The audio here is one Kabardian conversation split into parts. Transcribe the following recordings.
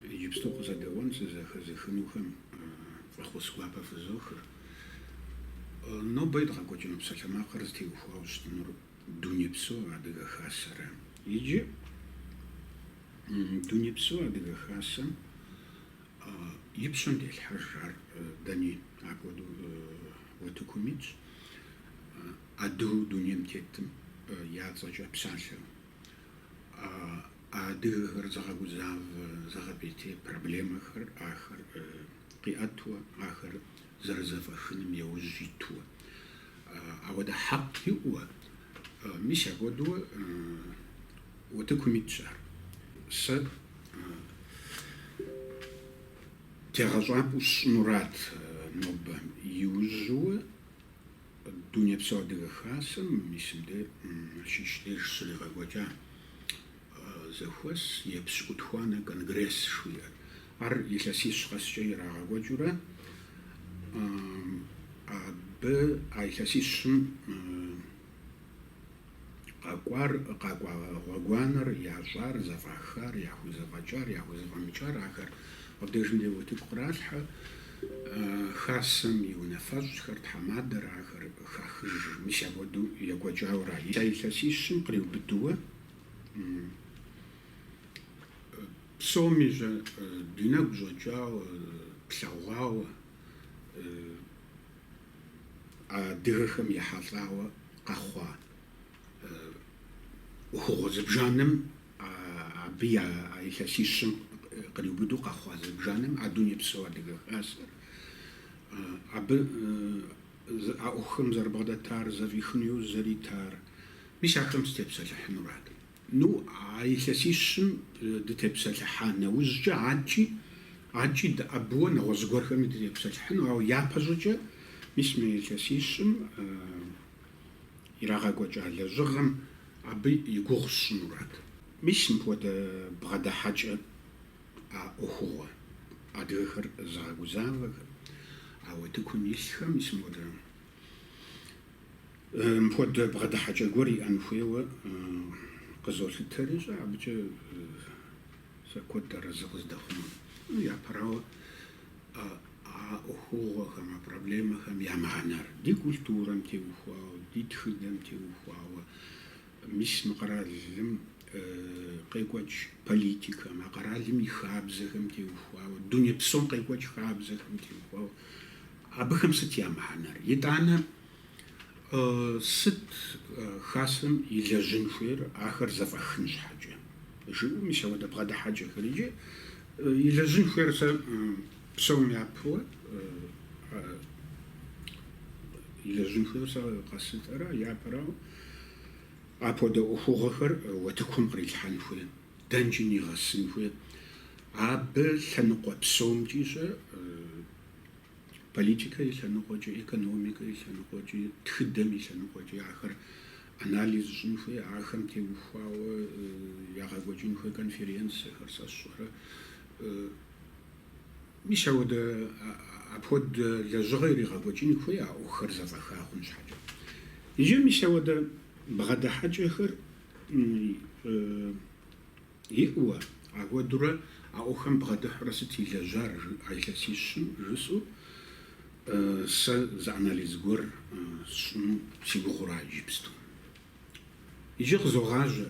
Иджыпсту къызэдэӏуэн сызэхэзыхынухэм фӏэхъус гуапэ фызохыр. Нобэ едгъэкӏуэкӏыну псалъэмакъыр зытеухуауэ щытынур Дунейпсо Адыгэ Хасэра. Иджы Дунейпсо Адыгэ Хасэм и пщэм делъхьэж ар дэни апхуэдэу утыкум итщ, адыгэу дунейм тетым я цӏэкӏэ псалъэ А адыгэхэр зыгъэгузавэ, зыгъэпӏейтей проблемэхэр ахэр къиӏэтуэ, ахэр зэрызэфӏэхыным яужь итуэ. Ауэдэ хьэкъ иӏэуэ, мис апхуэдэу утыкум итщ ар. Сэ тегъэщӏапӏэу сщӏынурат нобэ. Иужьыуэ Дунейпсо Адыгэ Хасэм мис мы Налшык деж щригъэкӏуэкӏа зэхуэс епщыкӏутхуанэ конгресс жыхуиӏэр. Ар илъэсищ къэскӏэ ирагъэкӏуэкӏыурэ, абы а илъэсищым Къакӏуар, къакӏуа гъуэгуанэр, ящӏар, зэфӏахар, яхузэфӏэкӏар, яхузэфӏэмыкӏар, ахэр абдежым де утыку къралъхьэ, хасэм и унафэщӏхэр, тхьэмадэр, ахэр хахыж. Мис апхуэдэу екӏуэкӏауэ ара. А илъэсищым къриубыдэуэ псоми щӏэ, ди нэгу щӏэкӏауэ, плъэгъуауэ. Адыгэхэм ехьэлӏауэ къэхъуа ӏуэхугъуэ зыбжанэм, абы а илъэсищым къриубыдэу къэхъуа зыбжанэм а дунейпсо Адыгэ Хасэр, абы а ӏуэхухэм зэрыбгъэдэтар, зэфӏихыну иужь зэритар, мис ахэм сытепсэлъыхьынуракъым. Ну, а илъэсищым дытепсэлъыхьа нэужькӏэ, адэкӏи, адэкӏи дыӏэбыуэ нэгъуэщӏ гуэрхэми дытепсэлъыхьыну, ауэ япэщӏыкӏэ, мис мы илъэсищым ирагъэкӏуэкӏа лэжьыгъэм абы и гугъу сщӏынурат. Мис мыпхуэдэ бгъэдыхьэкӏэ а ӏуэхугъуэр, адыгэхэр зыгъэгузавэхэр, а утыкум илъхэм, мис мыпхуэдэ Мыпхуэдэ бгъэдыхьэкӏэ гуэр иӏэн хуейуэ къызолъытэри, щӏэ, абыкӏэ сэ куэд арэзы къыздэхъун. Япэрауэ, а ӏуэхугъуэхэм, а проблемэхэм я мыхьэнэр, ди культурэм теухуауэ, ди тхыдэм теухуауэ, мис мы къэралым къекӏуэкӏ политикэм, а къэралым и хабзэхэм теухуауэ, дуней псом къекӏуэкӏ хабзэхэм теухуауэ Абыхэм сыт я мыхьэнэр? Итӏанэ, сыт Хасэм илэжьын хуейр ахэр зэфӏэхын щхьэкӏэ? жыӏэу, мис ауэдэ бгъэдыхьэкӏэхэр иджы илэжьын хуейр сэ псом япэуэ илэжьын хуейр сэ къэслъытэрэ япэрауэ, апхуэдэ ӏуэхугъуэхэр уэтыкум кърилъхьэн хуей, дэнкӏи нигъэсын хуей, абы лъэныкъуэ псомкӏи щӏэ, политикэ и лъэныкъуэкӏи, экономикэ и лъэныкъуэкӏи, тхыдэм и лъэныкъуэкӏи ахэр анализ щӏын хуей, ахэм теухуауэ ягъэкӏуэкӏын хуей конференцэхэр сэ сщӏэрэ. Мис ауэдэ апхуэдэ лэжьыгъэ иригъэкӏуэкӏын хуей а ӏуэхухэр зэфӏэха хъун щхьэкӏэ. Иджы мис ауэдэ бгъэдыхьэкӏэхэр Иӏэуэ, апхуэдэурэ а ӏуэхум бгъэдыхьурэ сыт илэжьар а илъэсищым жысӏэу сэ зы анализ гуэр сщӏыну си гугъура иджыпсту. Иджы къызогъажьэ,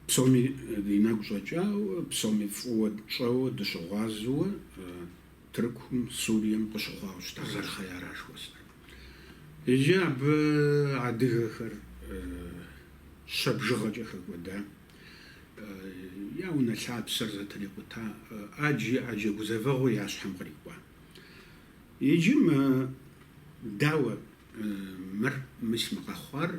псоми ди нэгу щӏэкӏауэ, псоми фӏыуэ тщӏэуэ дыщыгъуазэуэ Тыркум, Сурием къыщыхъуауэ щытар зэрыхъеяра жыхуэсӏэр? Иджы абы адыгэхэр щэ бжыгъэкӏэ хэкӏуэда, я унэ лъапсэр зэтырикъута, ӏэджи ӏэджэ гузэвэгъуэ я щхьэм кърикӏуа. Иджы мы, дауэ, мыр, мис мы къэхъуар,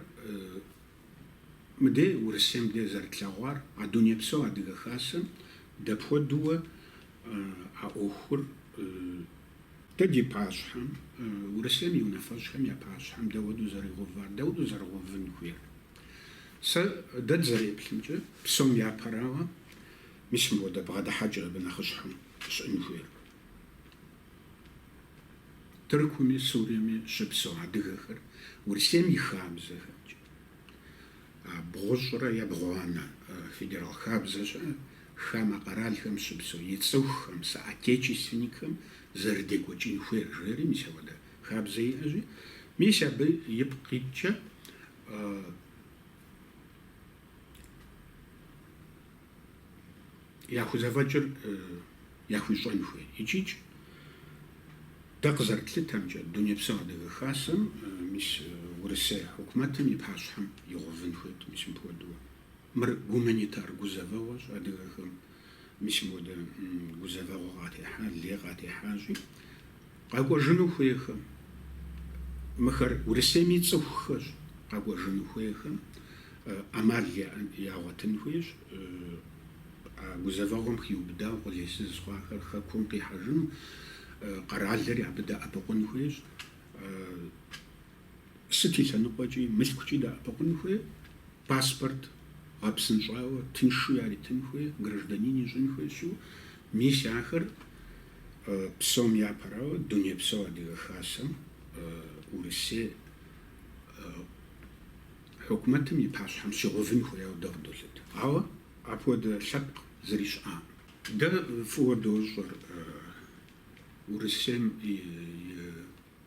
мыдей Урысейм де зэрытлъэгъуар, а Дунейпсо Адыгэ Хасэм дапхуэдэуэ а ӏуэхур Дэ ди пащхьэм, Урысейм и унафэщӏхэм я пащхьэм дауэдэу зэригъэувар, дауэдэу зэрыгъэувын хуейр? Сэ дэ дызэреплъымкӏэ, псом япэрауэ, мис мыпхуэдэ бгъэдыхьэкӏэ абы нэхъыщхьэм щыӏэн хуейр. Тыркуми, Суриеми щыпсэу адыгэхэр Урысейм и хабзэхэмкӏэ, Бгъущӏрэ ебгъуанэ федерал хабзэ щыӏэ хамэ къэралхэм щыпсэу и цӏыхухэм, соотечественникхэм зэрыдекӏуэкӏын хуейр жери, мис апхуэдэ хабзэ иӏэщи, мис абы ипкъ иткӏэ, яхузэфӏэкӏыр яхуищӏэн хуей. Икӏикӏ дэ къызэрытлъытэмкӏэ, Дунейпсо Адыгэ Хасэм, мис Урысей хьукумэтым и пащхьэм игъувын хуейт, мис мыпхуэдэуэ. Мыр гуманитар гузэвэгъуэщ адыгэхэм, мис мыпхуэдэ гузэвэгъуэ къатехьа, лей къатехьащи, Къэкӏуэжыну хуейхэм, мыхэр Урысейми цӏыхухэщ, къэкӏуэжыну хуейхэм ӏэмал ягъуэтын хуейщ а гузэвэгъуэм хиубыдау къулейсызу хъуахэр Хэкум къихьэжыну, къэралри абы дэӏэпыкъун хуейщ, сыт и лъэныкъуэкӏи, мылъкукӏи дэӏэпыкъун хуей. Паспорт гъэпсынщӏауэ тыншу яритын хуей гражданин ищӏын хуейщ, мис ахэр псом япэрауэ Дунейпсо Адыгэ Хасэм Урысей хьукумэтым и пащхьэм щигъэувын хуеяуэ дэ къыдолъыт. Ауэ апхуэдэ лъэпкъ зыри щыӏакъым. Дэ фӏыуэ дощӏэр Урысейм и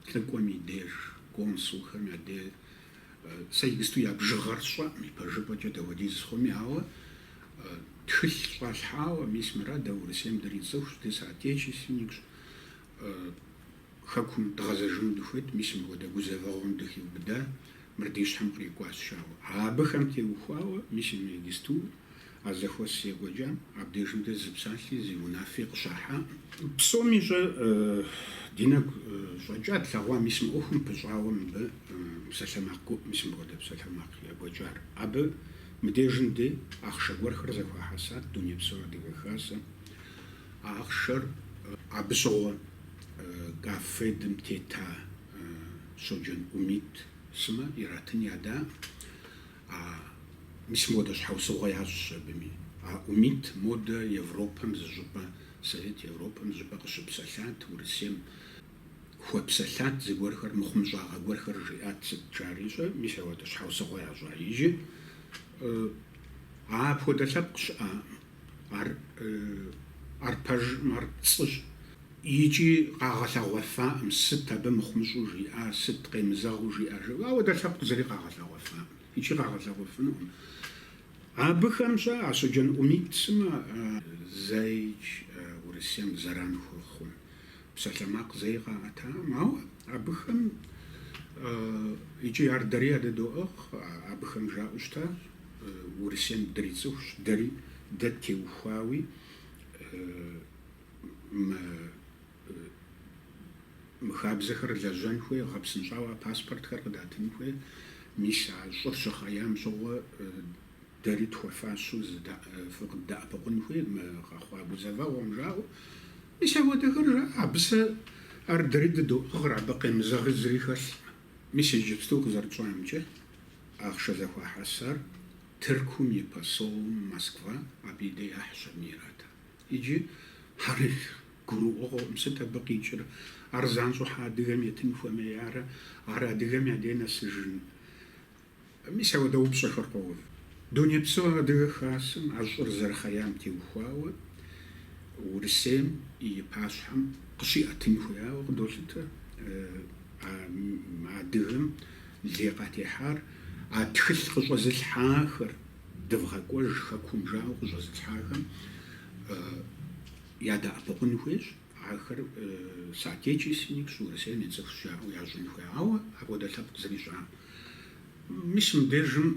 Лӏыкӏуэм и деж, консулхэм я де, сэ иджысту я бжыгъэр сщӏэкъым, ипэжыпӏэкӏэ дауэдиз хъуми, ауэ тхылъ щӏалъхьауэ, мис мыра дэ Урысейм дырицӏыхущ, ди соотечественникщ, Хэкум дгъэзэжыну дыхуейт, мис мыпхуэдэ гузэвэгъуэм дыхиубыда, мыр ди щхьэм кърикӏуащ, жаӏэу абыхэм теухуауэ, мис иджысту А зэхуэс екӏуэкӏам абдежым дэ зы псалъи, зы унафи къыщахьакъым. Псом ищӏэ ди нэгу щӏэкӏа тлъэгъуа мис мы ӏуэхум пыщӏауэ мыбы псалъэмакъ гуӏ, мис мыпхуэдэ псалъэмакъ екӏуэкӏар. Абы мыдежым деж ахъшэ гуэрхэр зэхуахьэсат Дунейпсо Адыгэ Хасэм. А ахъшэр абы щыгъуэ КАФФЕД-м тета Щоджэн Умит сымэ иратын ядаӏым. А мис модэ щхьэусыгъуэ ящӏщ абыми. А Умит модэ Европэм зыщӏыпӏэ, Совет Европэм зыщӏыпӏэ къыщыпсэлъат, Урысейм хуэпсэлъат зыгуэрхэр, мыхъумыщӏагъэ гуэрхэр жиӏат, сыт жари щӏэ, мис ауэдэ щхьэусыгъуэ ящӏа иджы. А апхуэдэ лъэпкъ щыӏакъым. ар ар пэжкъым, ар пцӏыщ. Икӏи къагъэлъэгъуэфаӏым, сыт абы мыхъумыщӏу жиӏар, сыт къемызэгъыу жиӏар жыпӏэу. Ауэдэ лъэпкъ зыри къагъэлъэгъуэфаӏым икӏи къагъэлъэгъуэфынукъым. Абыхэм щӏэ а Щоджэн Умит сымэ зэикӏ Урысейм зэран хуэхъун. Псалъэмакъ зэи къаӏэтакъым, ауэ абыхэм икӏи ар дэри ядыдоӏыгъ, абыхэм жаӏэу щытащ, Урысейм дрицӏыхущ, дэри дэ теухуауи мы хабзэхэр лэжьэн хуей, гъэпсынщӏауэ а паспортхэр къыдатын хуей, мис а щӏыр щыхъеям щыгъуэ дэри тхуэфащэу фыкъыддэӏэпыкъун хуей мы къэхъуа гузэвэгъуэм, жаӏэу. Мис апхуэдэхэр жаӏэ, абы сэ ар дэри дыдоӏыгъыр, абы къемызэгъ зыри хэлъкъым. Мис иджыпсту къызэрытщӏэмкӏэ, ахъшэ зэхуахьэсар Тыркум и посолым Москва, абы и дей яхь щэ, ират. Иджы ар гурыӏуэгъуэкъым, сыт абы къикӏыр, ар занщӏэу щхьэ адыгэм етын хуэмеярэ, ар адыгэм я дей нэсыжын Мис апхуэдэ упщӏэхэр къоув. Дунейпсо Адыгэ Хасэм а щӏыр зэрыхъеям теухуауэ Урысейм и пащхьэм къыщиӏэтын хуеяуэ къыдолъытэ а адыгэм лей къатехьар, а тхылъ къыщӏэзылъхьахэр, дывгъэкӏуэж хэкум жаӏэу къыщӏэзылъхьахэм ядэӏэпыкъун хуейщ. Ахэр соотечественникщ, Урысейм и цӏыхущ жаӏэу ящӏын хуеяуэ апхуэдэ лъэпкъ зэрищӏам. Мис мыбдежым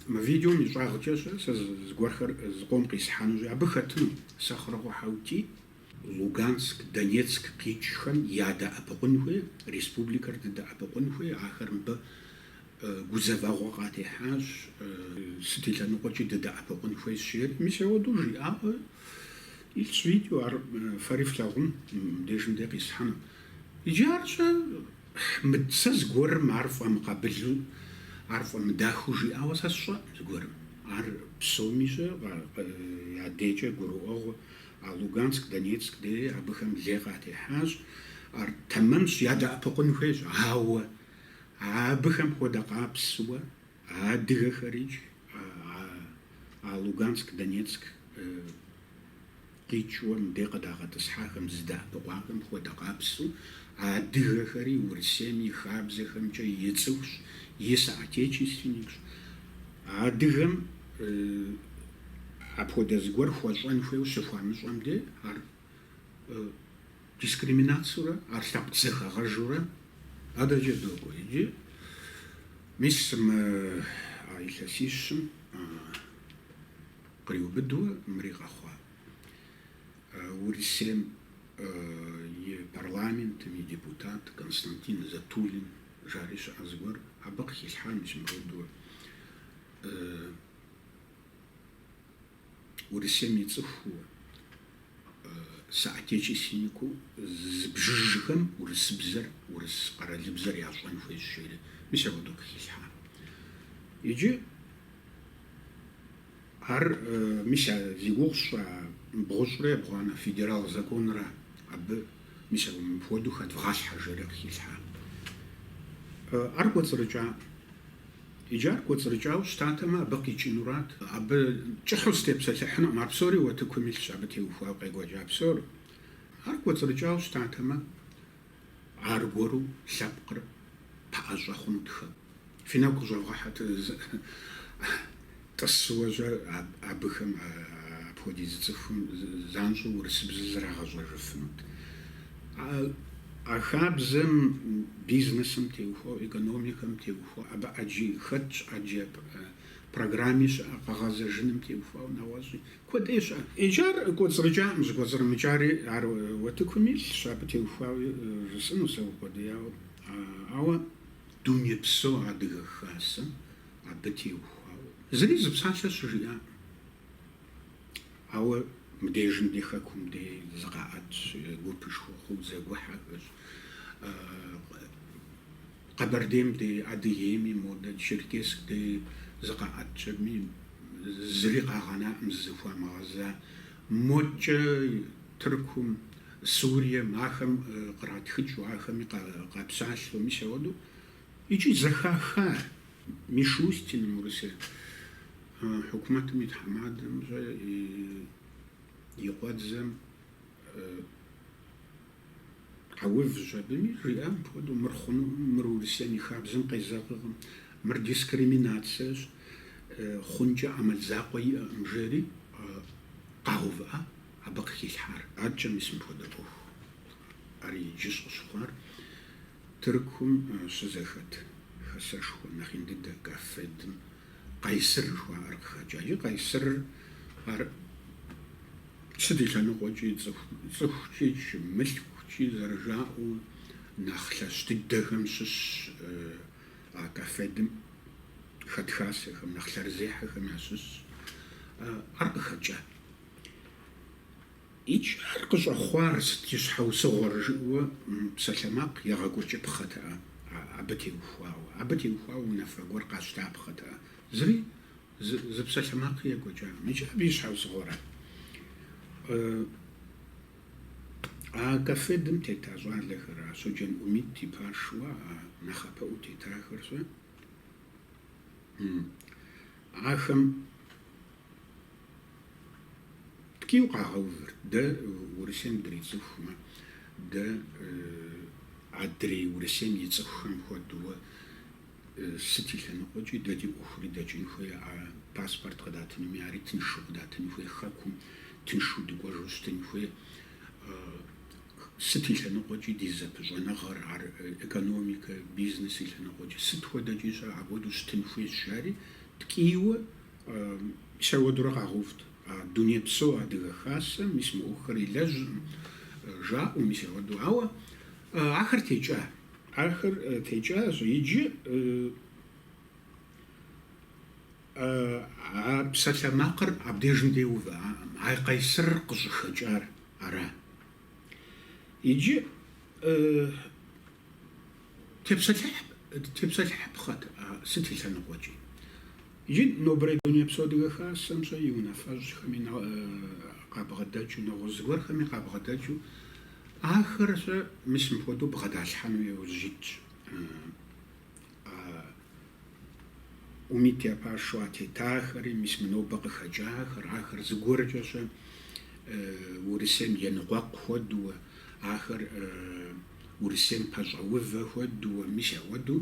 мы видеом и щӏагъкӏэ щэ сэ зыгуэрхэр зыкъом къисхьэнущи, абы хэтыну Сэхъурокъуэ Хьэутий. Луганск, Донецк къикӏхэм ядэӏэпыкъун хуей, республикэр дыдэӏэпыкъун хуей, ахэр мыбы Гузэвэгъуэ къатехьащ, сыт и лъэныкъуэкӏи дыдэӏэпыкъун хуейщ жери. Мис ауэдэу жиӏауэ илъщ видео, ар фэри флъагъун, мыбдежым де къисхьэну. Иджы ар щэ мыдэ сэ зыгуэрым ар фӏэмыкъабылу, ар фӏэмыдахэу жиӏауэ сэ сщӏэӏым зыгуэрым. Ар псоми щэ я дейкӏэ гурыӏуэгъуэ, а Луганск, Донецк дей абыхэм лей къатехьащ, ар тэмэмщ, ядэӏэпыкъун хуейщ, ауэ. Абыхэм хуэдэ къабзэуэ адыгэхэрикӏ а Луганск, Донецк къикӏыу мыбдей къыдагъэтӏысхьахэм зыдэӏэпыкъуахэм хуэдэ къабзэу адыгэхэри Урысейм и хабзэхэмкӏэ и цӏыхущ, и соотечественникщ. Адыгэм апхуэдэ зыгуэр хуэщӏэн хуейуэ щыхуамыщӏэм де ар дискриминацэурэ ар лъэпкъ зэхэгъэжурэ адэкӏэ докӏуэ иджы. Мис мы а илъэсищым къриубыдуэ мыри къэхъуа. Урысейм и парламентым и депутат Константин Затулин жари щыӏэ зыгуэр абы къыхилъхьа мис мыпхуэдэурэ. Урысейм и цӏыхуу, соотечественникыу зыбжыжхэм урысыбзэр, урыс къэралыбзэр ящӏэн хуейщ жери, мис апхуэдэу къыхилъхьа. Иджы ар мис а зи гугъу тщӏа бгъущӏрэ ебгъуанэ федерал законрэ абы мис апхуэдэу хэдывгъалъхьэ жери къыхилъхьа. Ар кӏуэцӏрыкӏа? Иджы ар кӏуэцӏрыкӏауэ щытатэмэ, абы къикӏынурат. Абы кӏыхьу сытепсэлъыхьынукъым, ар псори уэтыкум илъщ, абы теухуауэ къекӏуэкӏа псор. Ар кӏуэцӏрыкӏауэ щытатэмэ, аргуэру лъэпкъыр пэӏэщӏэ хъунут хэкум. Фи нэгу къыщӏэвгъэхьэт. Тӏысыуэ щэ абыхэм, апхуэдиз цӏыхум, занщӏэу урысыбзэ зрагъэщӏэжыфынут. А хабзэм бизнесым теухуауэ, экономикэм теухуауэ, абы ӏэджи хэтщ, ӏэджэ программи щыӏэ, къэгъэзэжыным теухуауэ нэгъуэщӏи куэдыӏей щыӏэ. Иджы ар кӏуэцӏрыкӏакъым, щӏыкӏуэцӏрымыкӏари ар уэтыкум илъщ, абы теухуауи жысӏэнущ зэукъуэдияуэ. Ауэ дунейпсо Адыгэ Хасэм Абы теухуауэ зыри зы псалъэ щыжиӏакъым. Ауэ мыбдежым ди Хэкум де зыкъаӏэтщ гупышхуэ хъууэ зэгухьэхэщ. Къэбэрдейм де, Адыгейми, модэ Черкесск де зыкъаӏэтщ аби, зыри къагъэнаӏым зызыхуамыгъэза. Модкӏэ Тыркум, Сурием, ахэм къратхыкӏыу, ахэми къэпсалъэу, мис ауэдэу. Икӏи зэхахар Мишустиным, Урысей хьукумэтым и тхьэмадэм щэ и къуэдзэм къэувщ абыми, жиӏа мыпхуэдэу, мыр хъунукъым, мыр Урысейм и хабзэм къезэгъыркъым, мыр дискриминацэщ, хъункӏэ ӏэмал закъуэ иӏэкъым, жери къагъэувыӏа абы къыхилъхьар. Адэкӏэ мис мыпхуэдэ ӏуэху ар иджыщ къыщыхъуар. Тыркум щызэхэт хэсэшхуэ нэхъ ин дыдэ Каффедым Къайсыр жыхуаӏэр къыхэкӏа. Иджы Къайсырыр ар сыт и лъэныкъуэкӏи, цӏыхукӏи, мылъкукӏи зэрыжаӏэу, нэхъ лъэщ дыдэхэм щыщщ а Каффедым хэт хасэхэм, нэхъ лъэрызехьэхэм ящыщщ ар къыхэкӏа. Икӏи ар къыщӏэхъуар сыт и щхьэусыгъуэр жыӏэуэ псалъэмакъ егъэкӏуэкӏыпхъэтэкъэ абы теухуауэ, абы теухуауэ унафэ гуэр къащтапхъэтэкъэ. Зыри зы псалъэмакъи екӏуэкӏакъым. Икӏи абы и щхьэусыгъуэра? А Каффедым тета щӏалэхэр, а Щоджэн Умит и пашэуэ, а нэхъапэӏуэу тетахэр щэ. Ахэм ткӏийу къагъэувырт, дэ Урысейм дрицӏыхумэ, дэ адрей Урысейм и цӏыхухэм хуэдэуэ сыт и лъэныкъуэкӏи, дэ ди ӏуэхури дэкӏын хуей, а паспорт къыдатынуми ари тыншу къыдатын хуей, хэкум тыншу дыкӏуэжу щытын хуей. Сыт и лъэныкъуэкӏи ди зэпыщӏэныгъэр, ар экономикэ, бизнес и лъэныкъуэкӏи, сыт хуэдэкӏи-щэ, апхуэдэу щытын хуейщ, жари ткӏийуэ мис ауэдурэ къагъэувт. А Дунейпсо Адыгэ Хасэм, мис мы ӏуэхухэр илэжьыркъым, жаӏэу, мис ауэду. Ауэ ахэр текӏа. Ахэр текӏащ. Иджы а псалъэмакъыр абдежым деувэ, а Къайсыр къыщӏыхэкӏар. ара? Иджы тепсэлъыхьыпхъэт а сыт и лъэныкъуэкӏи. Иджы нобэрей Дунейпсо Адыгэ Хасэм-щэ и унафэщӏхэми къабгъэдэкӏыу, нэгъуэщӏ зыгуэрхэми къабгъэдэкӏыу ахэр-щэ мис мыпхуэдэу бгъэдалъхьэну иужь итщ. А Умит я пашэу а тетахэри, мис мы нобэ къыхэкӏахэр, ахэр зыгуэркӏэ-щэ Урысейм еныкъуэкъу хуэдууэ, ахэр Урысейм пэщӏэувэ хуэдууэ, мис ауэду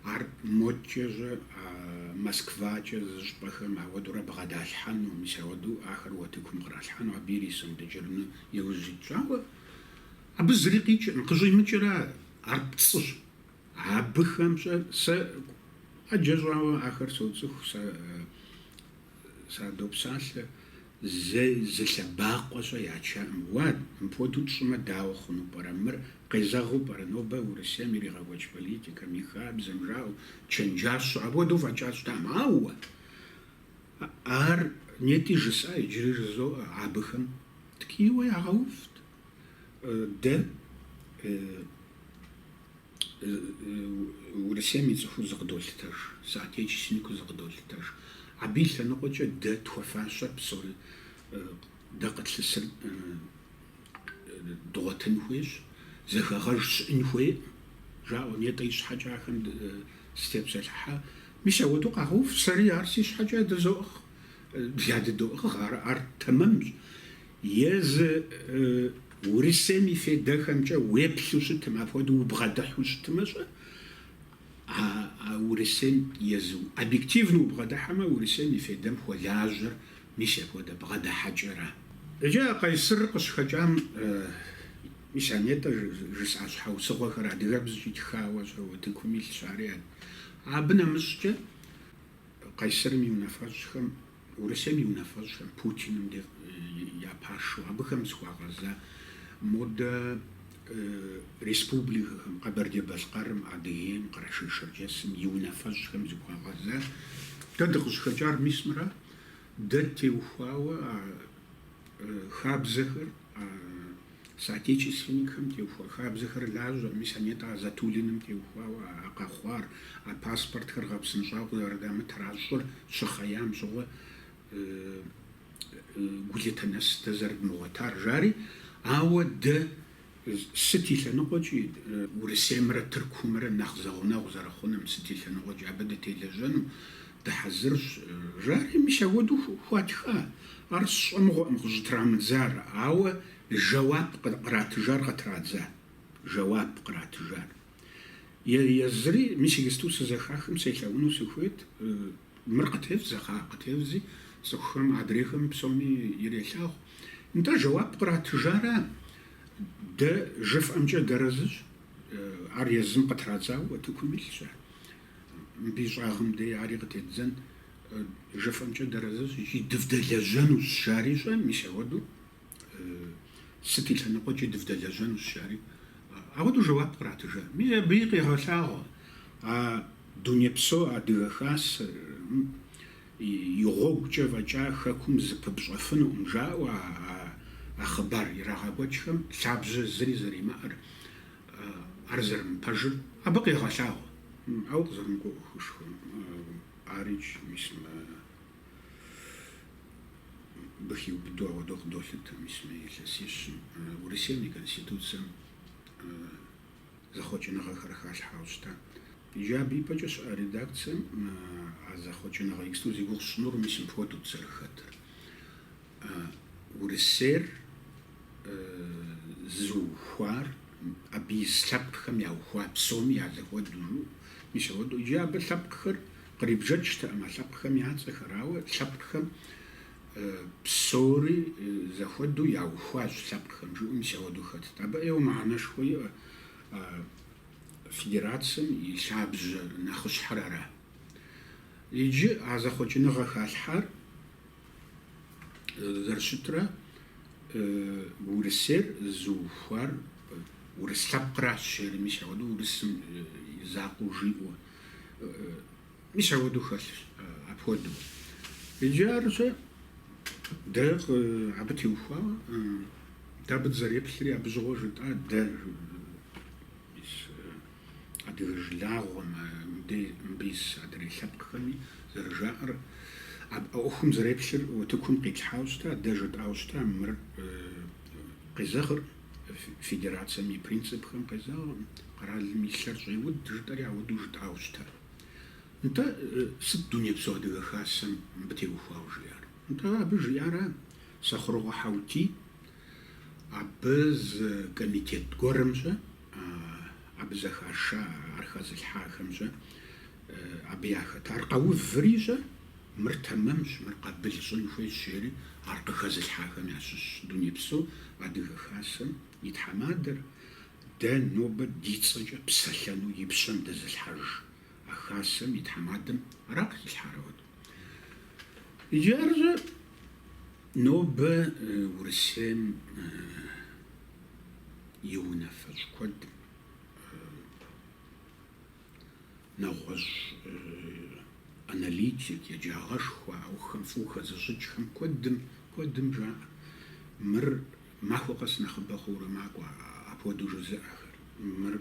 ар модкӏэ-щэ а Москвакӏэ зыщӏпӏэхэм ауэдурэ бгъэдалъхьэну, мис ауэду ахэр уэтыкум къралъхьэну абы ирисэу дэкӏэрыну иужь итщ, ауэ, абы зыри къикӏыркъым, къыщӏимыкӏыр ар, ар пцӏыщ, Абыхэм-щэ сэ ӏэджэ щӏауэ ахэр соцӏыху, садопсалъэ, зэи зы лъэбакъуэ-щэ ячаӏым. Уа, мыпхуэдэу тщӏымэ, дауэ хъуну пӏэрэ? Мыр къезэгъыу пӏэрэ? Нобэ Урысейм иригъэкӏуэкӏ политикэм, и хабзэм жаӏэу, чэнджащэу апхуэдэу фӏэкӏа щытаӏым. Ауэ ар нетӏи жысӏа, иджыри жызоӏэ, абыхэм ткӏийуэ ягъэувт. Дэ Урысейм и цӏыхуу зыкъыдолъытэж, соотечественникыу зыкъыдолъытэж. Абы и лъэныкъуэкӏэ дэ тхуэфащэр псори дэ къытлъысыр дгъуэтын хуейщ, зэхэгъэж щыӏын хуейӏым, жаӏэу, нетӏэ ищхьэкӏэ ахэм сытепсэлъыхьа. Мис апхуэдэу къагъэув, сэри ар си щхьэкӏэ дызоӏыгъ, дыдоӏыгъ, ар тэмэмщ. Езы Урысейм и федэхэмкӏэ уеплъу щытым, апхуэдэу убгъэдыхьу щытымэ-щэ, а Урысейм езы, объективно убгъэдыхьэмэ, Урысейм и федэм хуэлажьэр мис апхуэдэ бгъэдыхьэкӏэра? Иджы а Къайсыр къыщыхэкӏам мис а нетӏэ жысӏа щхьэусыгъуэхэр адыгэбзэкӏи тхауэ-щэ утыкум илъщ, ари абы нэмыщӏкӏэ Къайсырым и унафэщӏхэм Урысейм и унафэщӏхэм, Путиным де я пашэу, абыхэм зыхуагъэза модэ республикэхэм, Къэбэрдей-Балъкъэрым, Адыгейм, Къэрэшей-Шэрджэсым и унафэщӏхэм зыхуагъэза. Дэ дыкъыщӏыхэкӏар мис мыра, дэ теухуауэ а Хабзэхэр, а соотечественникхэм теухуа хабзэхэр лажьэ, мис а нетӏэ а Затулиным теухуауэ а къэхъуар, а паспортхэр гъэпсынщӏауэ къызэрыдамытыр а щӏыр щыхъеям щыгъуэ гулъытэ нэс дэ зэрыдмыгъуэтар, жари, ауэ дэ Сыт и лъэныкъуэкӏи, Урысеймрэ Тыркумрэ нэхъ зэгъунэгъу зэрыхъуным, сыт и лъэныкъуэкӏи, абы дытелэжьэну дыхьэзырщ. Жари, мис апхуэдэу хуатха. Ар сщӏэмыгъуэкъым къыщӏытрамыдзар, ауэ жэуап къратыжар къытрадза. Жэуап къратыжар. Е, езыри, мис иджысту сызэхахым селъэӏуну сыхуейт. Мыр къытевдзэ, хьа, къытевдзи, цӏыхухэм адрейхэм псоми ирелъагъу. Нтӏэ, жэуап къратыжара? Дэ жыфӏэмкӏэ дыарэзыщ, ар езым къытрадзауэ утыкум илъщ ар. Мыбы и щӏагъым дей ари къытеддзэн, жыфӏэмкӏэ дыарэзыщ икӏи дывдэлэжьэнущ, жари щӏэ, мис ауэдэу. Сыт и лъэныкъуэкӏи дывдэлэжьэнущ, жари, ауэдэу жэуап къратыжа. Ми абыи къегъэлъагъуэ а Дунейпсо Адыгэ Хасэм и гъуэгукӏэ фӏэкӏа Хэкум зыпыпщӏэфынукъым жаӏэу а хъыбар ирагъэкӏуэкӏхэм лъабжьэ зыри зэримыӏэр, ар зэрымыпэжыр абы къегъэлъагъуэ, ауэ къызэрымыгугъыхыжхэ арикӏ, мис. бы хиубыдэу ауэдэу къыдолъытэ мис мы илъэсищым. Урысейм и Конституцэм зэхъуэкӏыныгъэхэр халъхьауэ щыта. Иджы абы ипэкӏэ щыӏэ редакцэм а зэхъуэкӏыныгъэ иксту зи гугъу сщӏынур мис мыпхуэдэут зэрыхэтыр. Урысейр зыухуар, абы ис лъэпкъхэм яухуа псоми я зэхуэдэу, мис ауэдэу иджы абы лъэпкъхэр Кърибжэкӏтэкъым а лъэпкъхэм я цӏэхэр, ауэ лъэпкъхэм псори зэхуэдэу яухуащ, лъэпкъхэм жиӏэу мис ауэдэу хэтт. Абы ӏейуэ мыхьэнэшхуэ иӏэ а федерацэм и лъабжьэ нэхъыщхьэр ара. Иджы а зэхъуэкӏыныгъэ халъхьар зэрыщытрэ Урысейр зыухуар урыс лъэпкъращ, жери мис ауэдэу урысым и закъуэу жиӏэу. Мис ауэдэу хэлъщ апхуэдэу. Иджы арщэ дэ абы теухуауэ дэ абы дызэреплъри абы щыгъуэ жытӏа дэ адыгэ жылагъуэм мыбы ис адрей лъэпкъхэми зэрыжаӏэр ӏуэхум зэреплъыр утыкум къитлъхьауэ щыта дэ жытӏауэ щыта мыр къезэгъыркъым Федерацэм и принципхэм къезауэ, къэралым и лъэр щӏеуд жытӏэри ауэдэу жытӏауэ щытар. Нтӏэ, сыт Дунейпсо Адыгэ Хасэм мыбы теухуауэ жиӏар? Нтӏэ, абы жиӏара Сэхъурокъуэ Хьэутий абы зы комитет гуэрым щӏэ, абы зэхаша, ар хэзылъхьахэм щӏэ абы яхэт, ар къэуври щӏэ, Мыр тэмэмщ, мыр къабыл щӏын хуейщ, жери ар къыхэзылъхьахэм ящыщщ Дунейпсо Адыгэ Хасэм и тхьэмадэр. Дэ нобэ ди цӏэкӏэ псэлъэну и пщэм дэзылъхьэжа Хасэм и тхьэмадэм ара къыхилъхьар ауэд? Иджы ар щӏэ, нобэ Урысейм и унафэщӏ куэд Нэгъуэщӏ аналитик, еджагъэшхуэ, ӏуэхум фӏыуэ хэзыщӏыкӏхэм куэдым, куэдым жаӏэ, мыр махуэ къэс нэхъыбэ хъуурэ макӏуэ апхуэдэу жызыӏэхэр. Мыр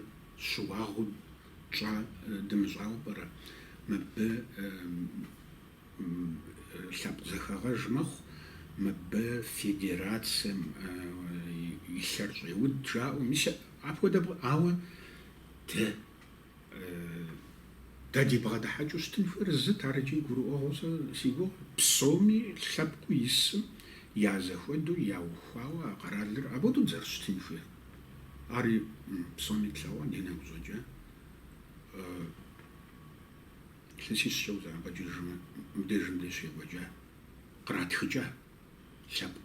щыуагъэу тщӏа дымыщӏауэ пӏэрэ? Мыбы лъэпкъ зэхэгъэж мэхъу, мыбы федерацэм и лъэр щӏеуд жаӏэу, мис апхуэдэ, ауэ дэ Дэ дибгъэдыхьэкӏыу щытын хуейр зыт ар икӏи гурыӏуэгъуэу сэ си гугъу. Псоми лъэпкъыу исым я зэхуэдэу яухуауэ а къэралыр апхуэдэу дызэрыщытын хуейр. Ари псоми тлъэгъуа ди нэгу щӏэкӏа. Илъэсищкӏэ узэӏэбэкӏыжмэ, мыбдежым дэ щекӏуэкӏа, къратхыкӏа лъэпкъ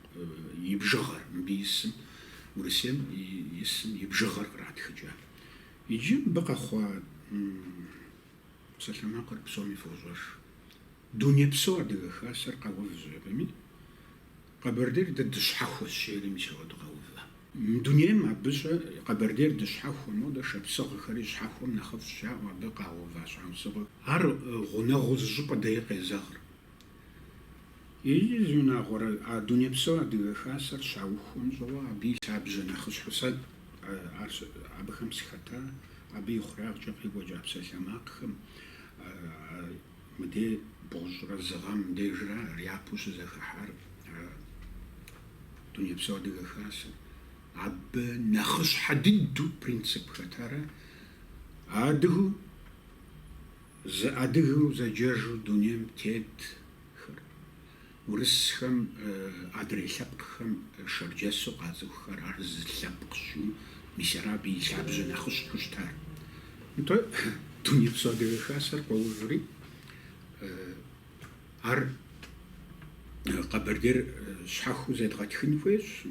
и бжыгъэр, мыбы исым, Урысейм исым и бжыгъэр къратхыкӏа. Иджы мыбы къэхъуа псалъэмакъыр псоми фощӏэж. Дунейпсо Адыгэ Хасэр къэув жиӏэми, Къэбэрдейр дэ дыщхьэхуэщ жери мис ауэду къэува. Мы дунейм абы щӏэ Къэбэрдейр дыщхьэхуэ, модэ шапсыгъхэри щхьэхуэм нэхъыфӏщ жаӏэу абы къагъэува щхьэусыгъуэ. Ар гъунэгъуу зыщӏыпӏэ деи къезэгъыр. Иджы зы унагъуэрэ а дунейпсо Адыгэ Хасэр щаухуэм щыгъуэ абы и лъабжьэ нэхъыщхьэу сэ абыхэм сыхэта, абы и хъурагъкӏэ къекӏуэкӏа псалъэмакъхэм мыдей бгъущӏрэ зы гъэм дежра япэу щызэхыхьар дунейпсо Адыгэ Хасэр. Абы нэхъыщхьэ дыдэу принцип хэтара адыгэу Зы адыгэу зэджэжу дунейм тетхэр, урысхэм адрей лъэпкъхэм шэрджэсу къацӏыхухэр ар зы лъэпкъщ, мис ара абы и лъабжьэ нэхъыщхьэу щытар. Нтӏэ, Дунейпсо Адыгэ Хасэр къоуври, ар Къэбэрдейр щхьэхуэу зедгъэтхын хуейщ,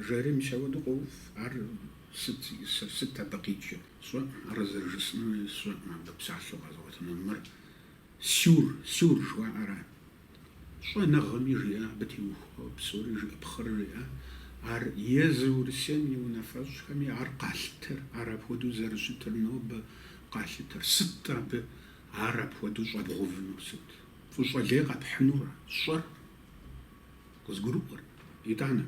жери мис ауэду къоув, ар сыт, сыт абы къикӏыр? Сщӏэ, ар зэрыжысӏэнури сщӏэм, а псалъэу къэзыгъуэтыну мыр сюр, сюр жыхуаӏэра? Щӏэныгъэми жиӏа абы теухуауэ псори жиӏэпхъэр жиӏа, ар езыр Урысейм и унафэщӏхэми ар къалъытэр, ар апхуэдэу зэрыщытыр нобэ къалъытэр, сыт абы ар апхуэдэу щӏэбгъувынур, сыт, фӏыщӏэ лей къэпхьынура, сщӏэр? Къызгурыӏуэр, итӏанэ.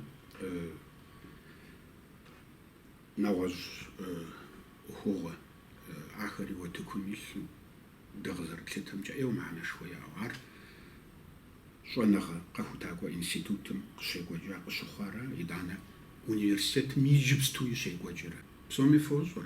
Нэгъуэщӏ ӏуэхугъуэ ахэри утыкум илъу дэ къызэрытлъытэмкӏэ ӏейуэ мыхьэнэшхуэ яӏэу ар щӏэныгъэ къэхутакӏуэ институтым къыщекӏуэкӏа къыщыхъуарэ, итӏанэ университетым иджыпстуи щекӏуэкӏрэ? Псоми фощӏэр.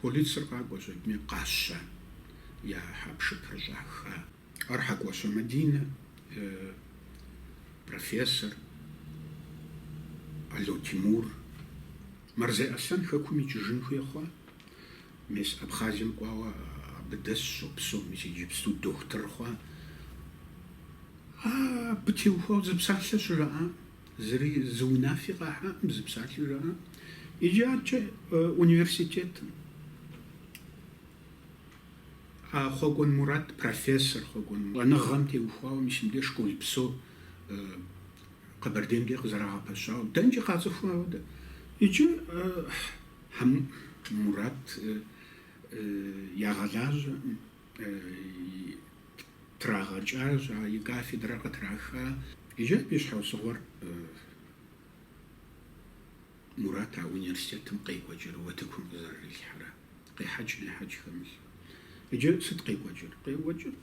Полицэр къакӏуэ щӏэтми, къащэ я хьэпшыпыр щӏаха. Ар Хьэкӏуащэ Мадинэ, профессор, Ало Тимур, Марзей Аслъэн хэкум икӏыжын хуей хъуа? Мес Абхъазием кӏуауэ абы дэсщ, щопсэу, мис иджыпсту дохутыр хъуа? Абы теухуауэ зы псалъэ щыжаӏам. Зыри зы унафи къахьакъым, зы псалъи жаӏакъым. Иджы аркӏэ университетым а Хъуэкӏуэн Мурат профессор Хъуэкӏуэн Мурат щӏэныгъэм теухуауэ мис мыбдеж школ псо Къэбэрдейм деж къызэрагъэпэщауэ, дэнкӏи къацӏыхуа ауэдэ. Иджы Мурат ягъэлажьэ. Трагъэкӏащ, а и кафедрэр къытраха. Иджы абы и щхьэусыгъуэр Мурат а университетым къекӏуэкӏыр, утыкум къызэрырилъхьэра, къехьэкӏ-нехьэкӏ хэмылъу. Иджы сыт къекӏуэкӏыр? Къекӏуэкӏыр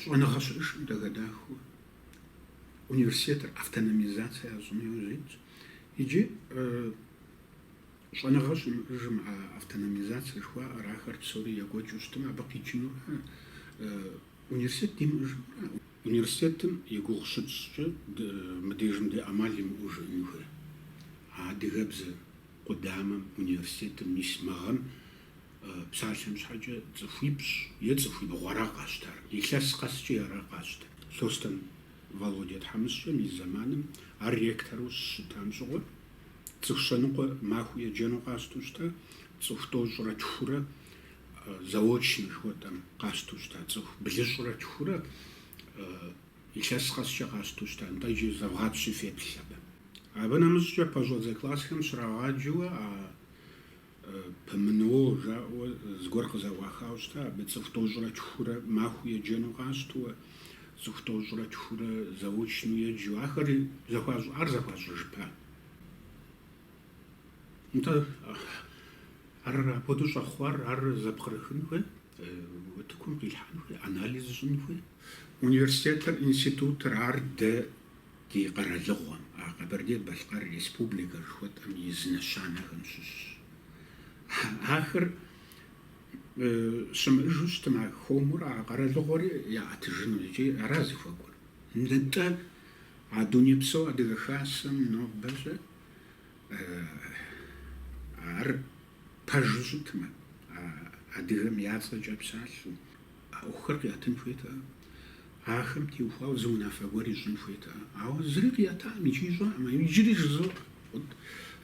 щӏэныгъэ щыӏэжкъым дэгэдахэу университетыр автономизацэ ящӏыну яужь итщ. Иджы Щӏэныгъэ щымыӏэжым а автономизацэ жыхуаӏэр, ахэр псори екӏуэкӏыу щытмэ, абы къикӏынура университет димыӏэжынура? Университетым и гугъу щытщӏкӏэ мыдежым дэ ӏэмал имыӏэу жыӏэну хуей. А адыгэбзэ къудамэм, университетым мис мы гъэм псалъэм щхьэкӏэ цӏыхуипщӏ е цӏыхуибгъу ара къащтар, илъэс къэскӏи ара къащтэр. Лъостэн Володя тхьэмыщкӏэм и зэманым ар ректору щыщытам щыгъуэ, Цӏыху щэныкъуэ махуэу еджэну къащтэу щыта, цӏыху тӏощӏрэ тхурэ, заочно жыхуэтӏэм, къащтэу щыта, цӏыху блыщӏрэ тхурэ илъэс къэскӏэ къащтэу щыта, нтӏэ иджы зэвгъапщи феплъ абы. Абы нэмыщӏкӏэ пэщӏэдзэ классхэм щрагъаджэуэ а ПМНО жаӏэуэ зыгуэр къызэӏуахауэ щыта, абы цӏыху тӏощӏрэ тхурэ махуэу еджэну къащтэуэ, цӏыху тӏощӏрэ тхурэ заочну еджэу. Ахэри зэхуащӏ, ар зэхуащӏыжыпа. Нтӏэ, ар апхуэдэу щӏэхъуар, ар зэпкърыхын хуей, утыкум къилъхьэн хуей, анализ щӏын хуей. Университетыр, институтыр, ар дэ Ди къэралыгъуэм, а Къэбэрдей-Балъкъэр Республикэр жыхуэтӏэм и зы нэщанэхэм щыщщ. Ахэр щымыӏэжу щытмэ, а хуэмурэ, а къэралыгъуэри яӏэтыжыну икӏи ара зыхуэкӏуэр. Нтӏэ, а Дунейпсо Адыгэ Хасэм нобэщӏэ ар пэжу щытмэ, а адыгэм я цӏэкӏэ псалъэу, А ӏуэхухэр къиӏэтын хуейтэкъэ? Ахэм теухуауэ зы унафэ гуэр ищӏын хуейтэкъэ? Ауэ зыри къиӏэтакъым икӏи ищӏакъым. Иджыри жызоӏэ. Къут,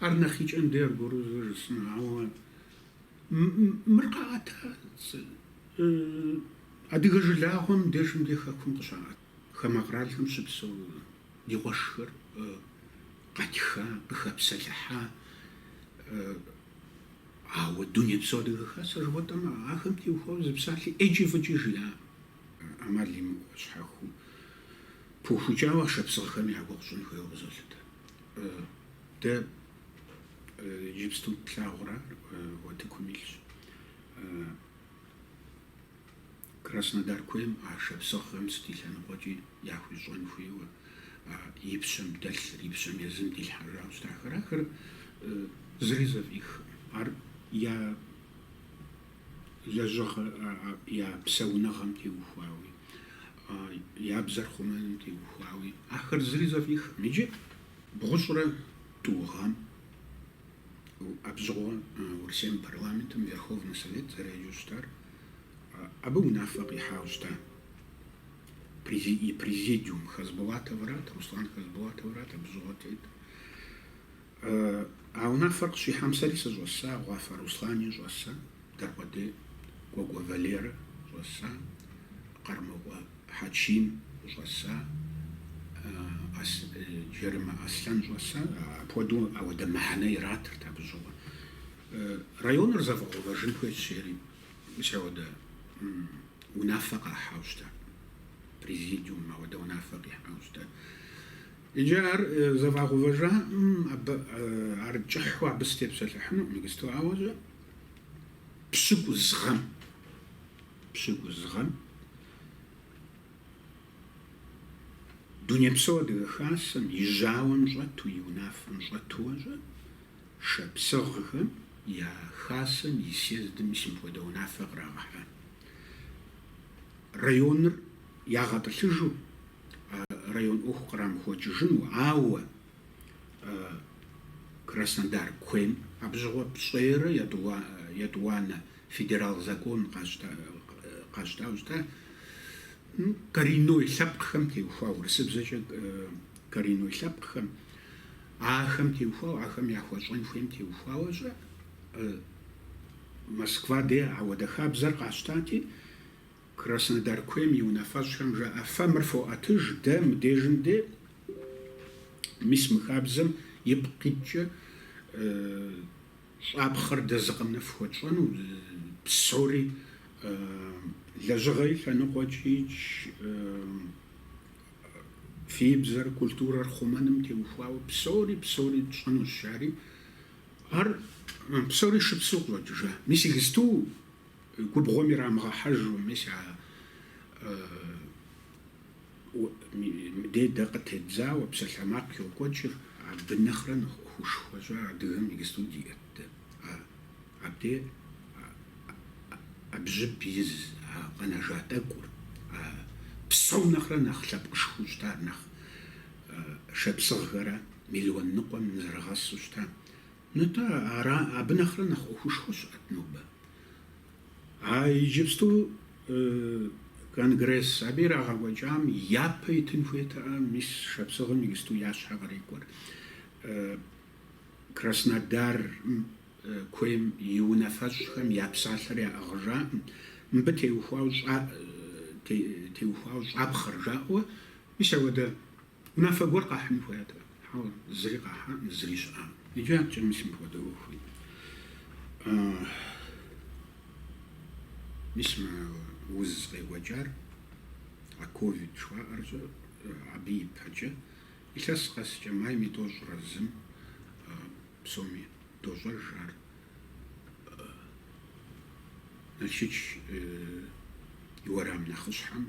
ар нэхъ икӏэм дей аргуэру зэ жысӏэну. Ауэ мыр къаӏэта адыгэ жылагъуэм дежым дей хэкум къыщаӏэт хамэ къралхэм щыпсэу ди къуэшхэр къэтха, къыхэпсэлъыхьа, Ауэ дунейпсо Адыгэ Хасэ жыхуэтӏэм, ахэм теухуауэ зы псалъи ӏейкӏи фӏыкӏи жиӏакъым. ӏэмал имыӏэу щхьэхуэу пыухыкӏауэ а шапсыгъхэми я гугъу щӏын хуейуэ къызолъытэ. Дэ иджыпсту тлъагъурэ, утыкум илъщ. Краснодар куейм а шапсыгъхэм сыт и лъэныкъуэкӏи яхуищӏэн хуейуэ, а и пщэм дэлъыр, и пщэм езым дилъхьэжауэ щытахэр, ахэр зыри зэфӏихкъым. Ар я лэжьыгъэ, я псэуныгъэм теухуауи, я бзэр хъумэным теухуауи, ахэр зыри зэфӏихкъым. Иджы бгъущӏрэ тӏу гъэм. Абщыгъуэ Урысейм парламентым Верховный Совет зэреджэу щытар, абы унафэ къихьауэ щыта и президиум Хасбулатоврат, Руслан Хасбулатоврат абщыгъуэ тет. А унафэр къыщихьам сэри сыщӏэса, Гъуафэ Руслани щӏэса. Дакъуэдей Кӏуэкӏуэ Валерэ щӏэса, Къармокъуэ Хьэчим щӏэса, Джарымэ Аслъэн щӏэса, апхуэдэу ауэдэ мыхьэнэ иратырт абы щыгъуэ. Районыр зэфӏэгъэувэжын хуейщ жери, мис ауэдэ унафэ къахьауэ щыта, президиум ауэдэ унафэ къихьауэ щыта. Иджы ар зэфӏагъэувэжаӏым, абы ар кӏыхьу абы сытепсэлъыхьынукъым иджысту, ауэ пщыкӏуз гъэм, пщыкӏуз гъэм Дунейпсо Адыгэ Хасэм и жьауэм щӏэту, и унафэм щӏэту щӏы, шапсыгъхэм я Хасэм и съездым мис мыпхуэдэ унафэ кърагъэхьа. Районыр ягъэтӏылъыжу, район ӏуэху кърамыхуэкӏыжыну, ауэ Краснодар куейм абы щыгъуэ пщӏейрэ етӏуанэ федерал закон къащтауэ щыта, коренной лъэпкъхэм теухуауэ, урысыбзэкӏэ коренной лъэпкъхэм, ахэм теухуауэ, ахэм яхуэщӏэн хуейм теухуауэ щӏы, Москва де ауэдэ хабзэр къащтати, Краснодар куейм и унафэщӏхэм жаӏэ, Фэ мыр фоӏэтыж, дэ мыдежым де. Мис мы хабзэм ипкъ иткӏэ щӏапхъэр дэ зы къэмынэу фхуэтщӏэну, псори лэжьыгъэ и лъэныкъуэкӏи фи бзэр, культурэр хъумэным теухуауэ псори, псори тщӏэнущ, жари, ар псори шыпсэу къыщӏэкӏыжа. Мис иджысту Губгъуэм ирамыгъэхьэжу, мис ауэдэ дэ къытедзауэ псалъэмакъ йокӏуэкӏыр абы нэхърэ нэхъ ӏуэхушхуэ щӏар адыгэм иджыпсту диӏэт. Абдей абжьыб из а къэнэжа тӏэкӏур, а псом нэхърэ нэхъ лъэпкъышхуэу щытар, нэхъ шапсыгъхэрэ миллион ныкъуэм нызэрыхьэсу щытам, Нтӏэ, ара, абы нэхърэ нэхъ ӏуэхушхуэ щыӏэт нобэ. А иджыпсту конгресс, абы ирагъэкӏуэкӏам япэ итын хуейтэӏэ, мис шапсыгъым иджыпсту я щхьэ кърикӏуэр Краснодар куейм и унафэщӏхэм я псалъэр яӏыгъыжакъым, мыбы теухуауэ щӏа, теухуауэ щӏапхъэр жаӏэуэ, мис ауэдэ. Унафэ гуэр къахьыну хуейт, хьэуэ, зыри къахьам, зыри щыӏам. Иджы адэкӏэ мис мыпхуэдэ ӏуэхуи. Мис мы уз къекӏуэкӏар, а ковид жыхуаӏэр щӏы, абы ипэкӏэ, илъэс къэскӏэ майм и тӏощӏрэ зым псоми дощӏэж ар. Налшыч и уэрам нэхъыщхьэм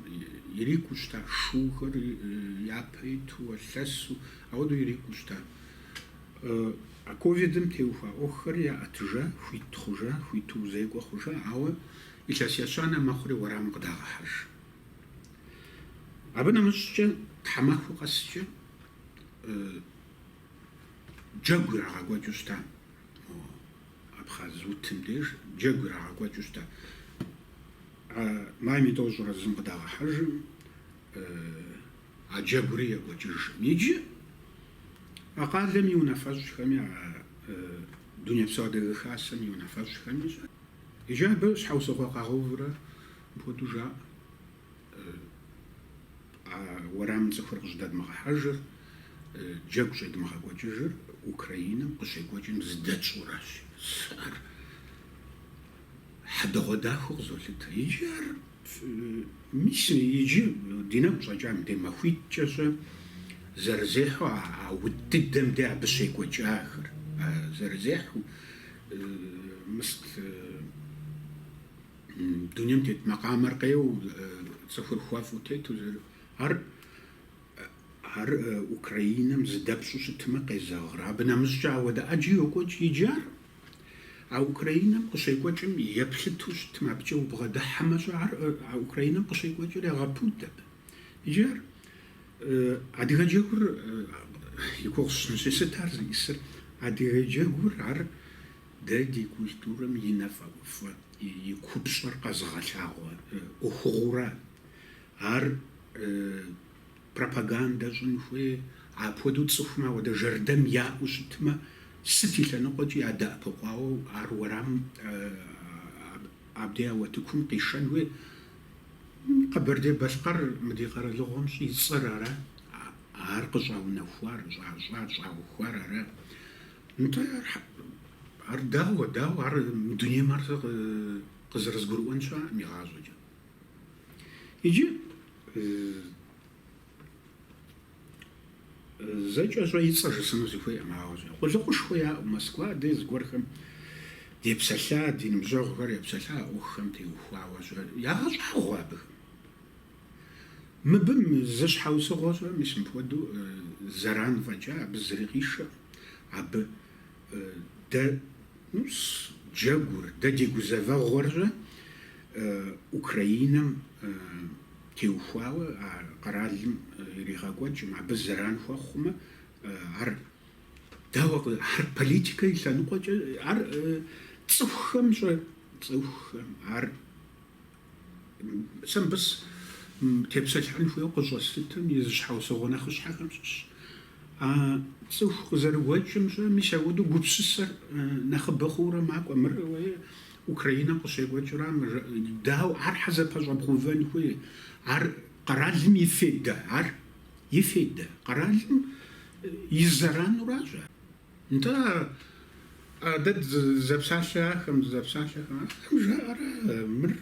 ирикӏуэу щыта шухэр япэ иту, а лъэсу, ауэдэу ирикӏуэу щыта. А ковидым теухуа ӏуэхухэр яӏэтыжа, хуит хъужа, хуиту узекӏуэ хъужа, ауэ илъэс ещанэ мэхъури уэрамым къыдагъэхьэж. Абы нэмыщӏкӏэ тхьэмахуэ къэскӏэ джэгу ирагъэкӏуэкӏыу щыта. Абхъаз утым деж джэгу ирагъэкӏуэкӏыу щыта. А майм и тӏощӏрэ зым къыдагъэхьэжым, а джэгури екӏуэкӏыжым. Иджы а къалэм и унафэщӏхэми, а Дунейпсо Адыгэ Хасэм и унафэщӏхэми иджы абы щхьэусыгъуэ къагъэувурэ мыпхуэдэу жаӏэ. А уэрамым цӏыхухэр къыщӏыдэдмыгъэхьэжыр, джэгу щӏедмыгъэкӏуэкӏыжыр Украинэм къыщекӏуэкӏым зыдэтщӏуращ. Ар хьэдэгъуэдахэу къызолъытэ. Иджы ар мис иджы ди нэгу щӏэкӏам дей махуитӏкӏэ щӏэ зэрызехьэу а ут дыдэм дей абы щекӏуэкӏахэр, а зэрызехьэу мыст. Дунейм тет макъамэр къеуэу, цӏыхур хуэфӏу тету зэр. Ар ар Украинэм зыдэпщӏу щытмэ къезэгъыр. Абы нэмыщӏкӏэ ауэдэ ӏэджи йокӏуэкӏ иджы ар. А Украинэм къыщекӏуэкӏым еплъыту щытмэ, абыкӏэ убгъэдыхьэмэ щӏэ ар а Украинэм къыщекӏуэкӏыр егъэпуд абы. Иджы ар адыгэ джэгур и гугъу сщӏынщи, сыт ар зиӏысыр? Адыгэ джэгур ар Дэ ди культурэм и нэфӏэгуфӏэ, и купщӏэр къэзыгъэлъагъуэ ӏуэхугъуурэ ар пропагандэ щӏын хуей, апхуэдэу цӏыхум ауэдэ жэрдэм яӏэу щытмэ, сыт и лъэныкъуэкӏи ядэӏэпыкъуауэ ар уэрамым абдей а утыкум къишэн хуей? Къэбэрдей-Балъкъэр мы ди къэралыгъуэм щӏицӏэр ара, ар къыщӏаунэхуар, щӏащӏар, щӏаухуар ара? Нтӏэ, ар дауэ, дауэ, ар мы дунейм ар сэ къызэрызгурыӏуэн щыӏэкъым игъащӏэкӏэ. Иджы зэкӏэ щӏэ и цӏэ жысӏэну сыхуейкъым, ауэ щӏэ. Къулыкъушхуэ яӏэу Москва дей зыгуэрхэм депсэлъа, ди ныбжьэгъухэр епсэлъа а ӏуэхухэм теухуауэ щӏэ. Ягъэщӏагъуэ абыхэм. Мыбым зы щхьэусыгъуэ щӏэ, мис мыпхуэдэу зэран фӏэкӏа, абы зыри къишэкъым. Абы дэ, ну, джэгур, дэ ди гузэвэгъуэр щӏэ Украинэм теухуауэ а къэралым иригъэкӏуэкӏым, абы зэран хуэхъумэ, ар дауэ, ар политикэ и лъэныкъуэкӏэ, ар цӏыхухэм щӏэ, цӏыхухэм, ар. Сэ мыбы тепсэлъыхьын хуейуэ къыщӏэслъытым и зы щхьэусыгъуэ нэхъыщхьэхэм щыщ. А цӏыху къызэрыгуэкӏым щэ, мис апхуэдэу гупсысэр нэхъыбэ хъуурэ макӏуэ. Мыр Украинэм къыщекӏуэкӏыра, мыр дауэ ар хьэ зэпэщӏэбгъэувэн хуей. Ар къэралым и фейдэ, ар и фейдэ, къэралым и зэрану аращ ар. Нтӏэ, а дэ дызэпсалъэахэм, дызэпсалъэхэм, ахэм жаӏэрэ, мыр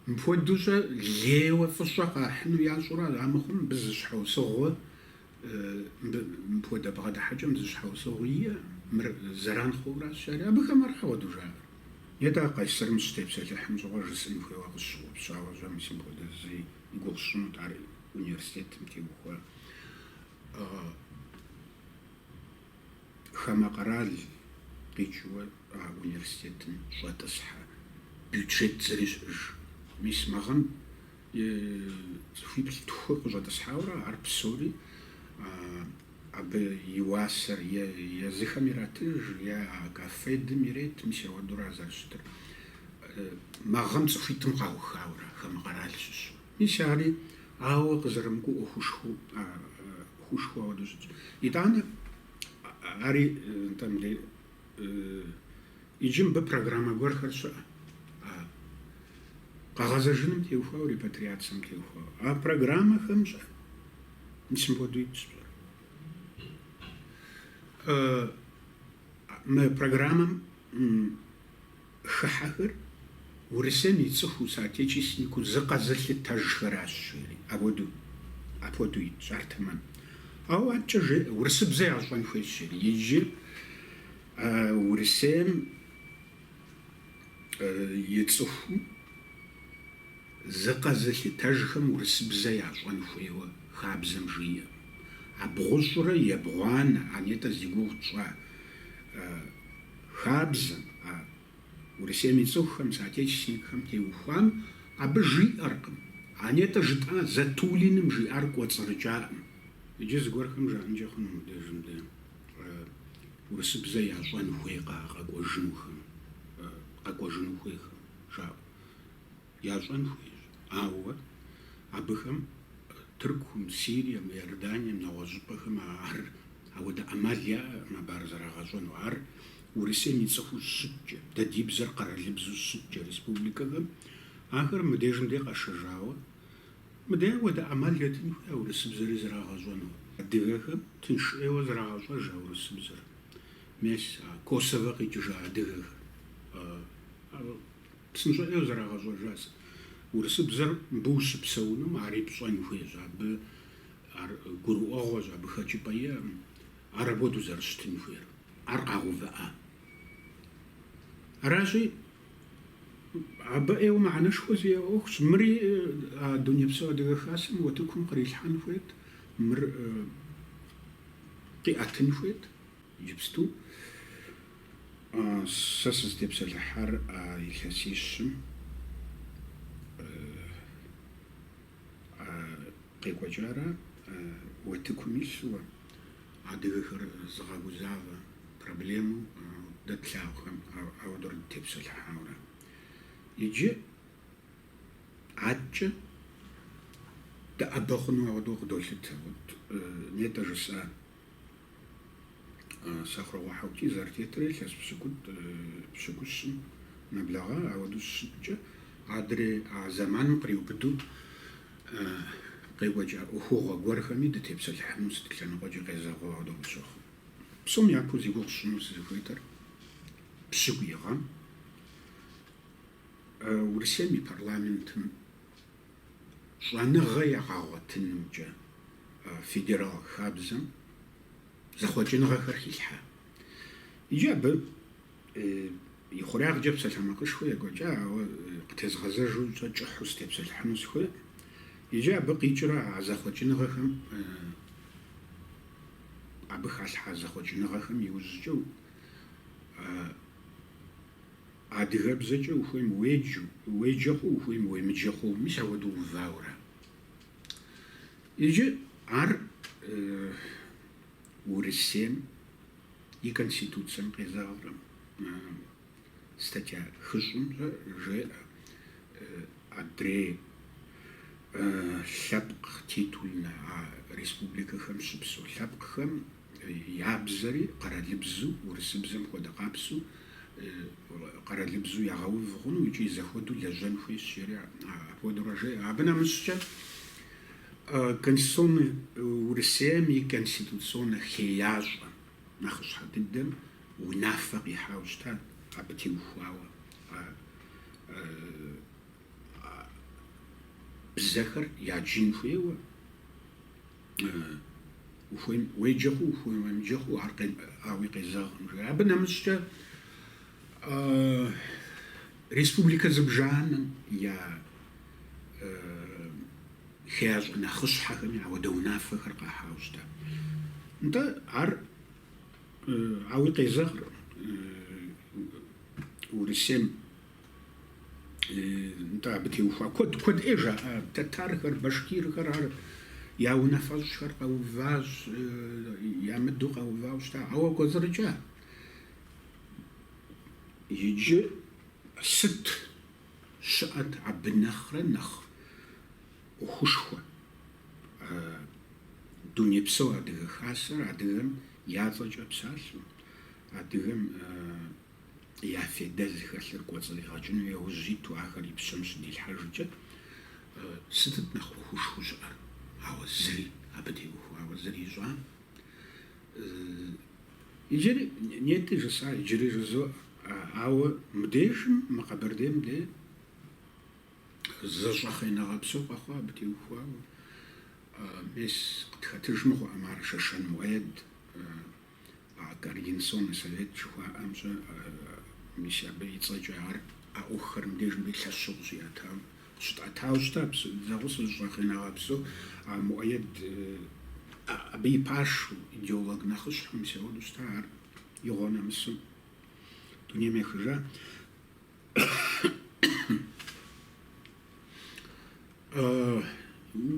мыпхуэдэу-щэ лейуэ фӏыщӏэ къахьыну ящӏэурэ ара мыхъум, мыбы зы щхьэусыгъуэ, мыбы мыпхуэдэ бгъэдыхьэкӏэм зы щхьэусыгъуэ иӏэ, мыр зэран хъууэ аращ ари, абыхэм ара хуэдэу жаӏэр? Е дэ Къайсэрым щытепсэлъыхьым щыгъуэ жысӏэн хуейуэ къысщыгъупщауэ щэ, мис мыпхуэдэ зыри и гугъу сщӏынут ар университетым теухуа. хамэ къэрал къикӏыуэ а университетым щӏэтӏысхьэ бюджет зыри щыӏэж. Мис мы гъэм цӏыхуиплӏ-тху къыщӏэтӏысхьауэрэ ар псори абы и уасэр е езыхэм иратыж, е а кафедым ирет, мис апхуэдэура зэрыщытыр. Мы гъэм цӏыхуитӏым къаухауэрэ хамэ къэрал щыщ. Мис ари ауэ къызэрымыкӏуэу ӏуэхушхуэ хуэдэу щытщ. Итӏанэ ари, нтӏэ, мыдэ, иджы мыбы программэ гуэрхэр щыӏэ, къэгъэзэжыным теухуауэ, репатриацэм теухуауэ. А программэхэм щэ, Мис мыпхуэдэу итщ щэ: Мы программэм хыхьэхэр Урысейм и цӏыхуу, соотечественникыу зыкъэзылъытэжхэращ, жери. Апхуэдэу, апхуэдэу итщ ар тэмэм. Ауэ адэкӏэ, жи, урысыбзэ ящӏэн хуейщ, жери. Иджы Урысейм и цӏыхуу зыкъэзылъытэжхэм урысыбзэ ящӏэн хуейуэ хабзэм жиӏэкъым. А бгъущӏрэ ебгъуанэ, а нетӏэ зи гугъу тщӏа Хабзэм, а Урысейм и цӏыхухэм, соотечественникхэм теухуам абы жиӏэркъым. А нетӏэ жытӏа Затулиным жиӏар кӏуэцӏрыкӏакъым. Иджы зыгуэрхэм жаӏэнкӏэ хъуну мыбдеж мыдэ урысыбзэ ящӏэн хуейкъэ къэкӏуэжынухэм, къэкӏуэжыну хуейхэм жаӏэу? ящӏэн хуейщ, ауэ абыхэм Тыркум, Сирием, Иорданием, нэгъуэщӏыпӏэхэм ар ауэдэ ӏэмал яӏэкъым абы ар зэрагъэщӏэну. Ар Урысейм и цӏыхуу щыткӏэ, дэ ди бзэр къэралыбзэу щыткӏэ республикэхэм, ахэр мыбдежым де къэшэжауэ, мыдэ ауэдэ ӏэмал етын хуей а урысыбзэри зэрагъэщӏэну. Адыгэхэм тынш ӏейуэ зэрагъэщӏэж а урысыбзэр, мес а Косовэ къикӏыжа адыгэхэр. Псынщӏэ ӏейуэ зэрагъэщӏэжа сыт? Урысыбзэр мыбы ущыпсэунум ари пщӏэн хуейщ, абы ар гурыӏуэгъуэщ, абы хэкӏыпӏэ иӏэкъым, ар ауэдэу зэрыщытын хуейр. Ар къагъэувыӏа? Аращи, абы ӏейуэ мыхьэнэшхуэ зиӏэ ӏуэхущ. Мыри а Дунейпсо Адыгэ Хасэм утыкум кърилъхьэн хуейт, мыр къиӏэтын хуейт. Иджыпсту сэ сызытепсэлъыхьар а илъэсищым къекӏуэкӏара, утыкум илъурэ, адыгэхэр зыгъэгузавэ проблему дэ тлъагъухэм ауэдурэ дытепсэлъыхьауэ ара. Иджы адкӏэ дыӏэбэ хъуну ауэдэу къыдолъытэ. Нетӏэ жысӏа? Сэхъурокъуэ Хьэутий зэрытетрэ илъэс пщыкӏутӏ, пщыкӏущым нэблэгъа, ауэдэу щыщыткӏэ, адрей а зэманым къриубыдэу къекӏуэкӏа ӏуэхугъуэ гуэрхэми дытепсэлъыхьыну сыт лъэныкъуэкӏи къезэгъыу ауэдэу къысщохъу. Псом япэу зи гугъу сщӏыну сызыхуейтэр пщыкӏуий гъэм Урысейм и парламентым щӏэныгъэ егъэгъуэтынымкӏэ федерал хабзэм зэхъуэкӏыныгъэхэр хилъхьа. Иджы абы и хъуреягъкӏэ псалъэмакъышхуэ екӏуэкӏа, ауэ къытезгъэзэжу щӏэ кӏыхьу сытепсэлъыхьыну сыхуей. Иджы абы къикӏрэ а зэхъуэкӏыныгъэхэм, абы халъхьа зэхъуэкӏыныгъэхэм иужькӏэ Адыгэбзэкӏэ ухуейм уеджэу, уеджэ хъууэ, ухуейм уемыджэ хъууэ, мис ауэдэу увауэра? Иджы ар Урысейм и Конституцэм къезэгъыркъым, статья хыщӏым ар жеӏэ, адрей лъэпкъ титульнэ а республикэхэм щыпсэу лъэпкъхэм Я бзэри къэралыбзу, урысыбзэм хуэдэ къабзэу, къэралыбзу ягъэув хъуну икӏи зэхуэдэу лэжьэн хуейщ, жери апхуэдэурэ жеӏэ. Абы нэмыщӏкӏэ, Конституционнэ Урысейм и конституционнэ хеящӏэ нэхъыщхьэ дыдэм унафэ къихьауэ щытат, абы теухуауэ а бзэхэр яджын хуейуэ, Ухуейм уеджэ хъу, ухуейм уемыджэ хъу, ар ауи къезэгъым жиӏэ. Абы нэмыщӏкӏэ республикэ зыбжанэм я хеящӏэ нэхъыщхьэхэми ауэдэ унафэхэр къахьауэ щыта. Нтӏэ ар ауи къезэгъыр Урысейм нтӏэ абы теухуа куэд куэд ӏей жаӏэ тэтархэр, башкирхэр ар я унафэщӏхэр къэуващ, ямыдэу къэувауэ щыта. Ауэ кӏуэцӏрыкӏа. Иджы сыт щыӏэт абы нэхърэ нэхъ ӏуэхушхуэ? Дунейпсо Адыгэ Хасэр адыгэм я цӏэкӏэ псалъэу, адыгэм я федэ зыхэлъыр кӏуэцӏригъэкӏыным яужь иту ахэр и пщэм щыдилъхьэжкӏэ, сытыт нэхъ ӏуэхушхуэу щыӏэр? Ауэ зыри абы теухуауэ зыри ищӏам. Иджыри нетӏи жысӏа, иджыри жызоӏэ. Ауэ мыбдежым, мы Къэбэрдейм де зэщӏэхъееныгъэ псо къэхъуа абы теухуауэ. Мис къытхэтыж мыгъуэӏым ар, Шэшэн Муӏэед. Координационнэ совет жыхуаӏэмкӏэ, мис абы и цӏэкӏэ ар а ӏуэхухэр мыбдежым де лъэщу къыщиӏэтауэ къыщытӏэтауэ щыта, псори дызэгъусэу, зэщӏэхъееныгъэ псо а Муӏэед абы и пашэу, идеолог нэхъыщхьэу мис ауэду щыта, ар игъуэ нэмысым дунейм ехыжа.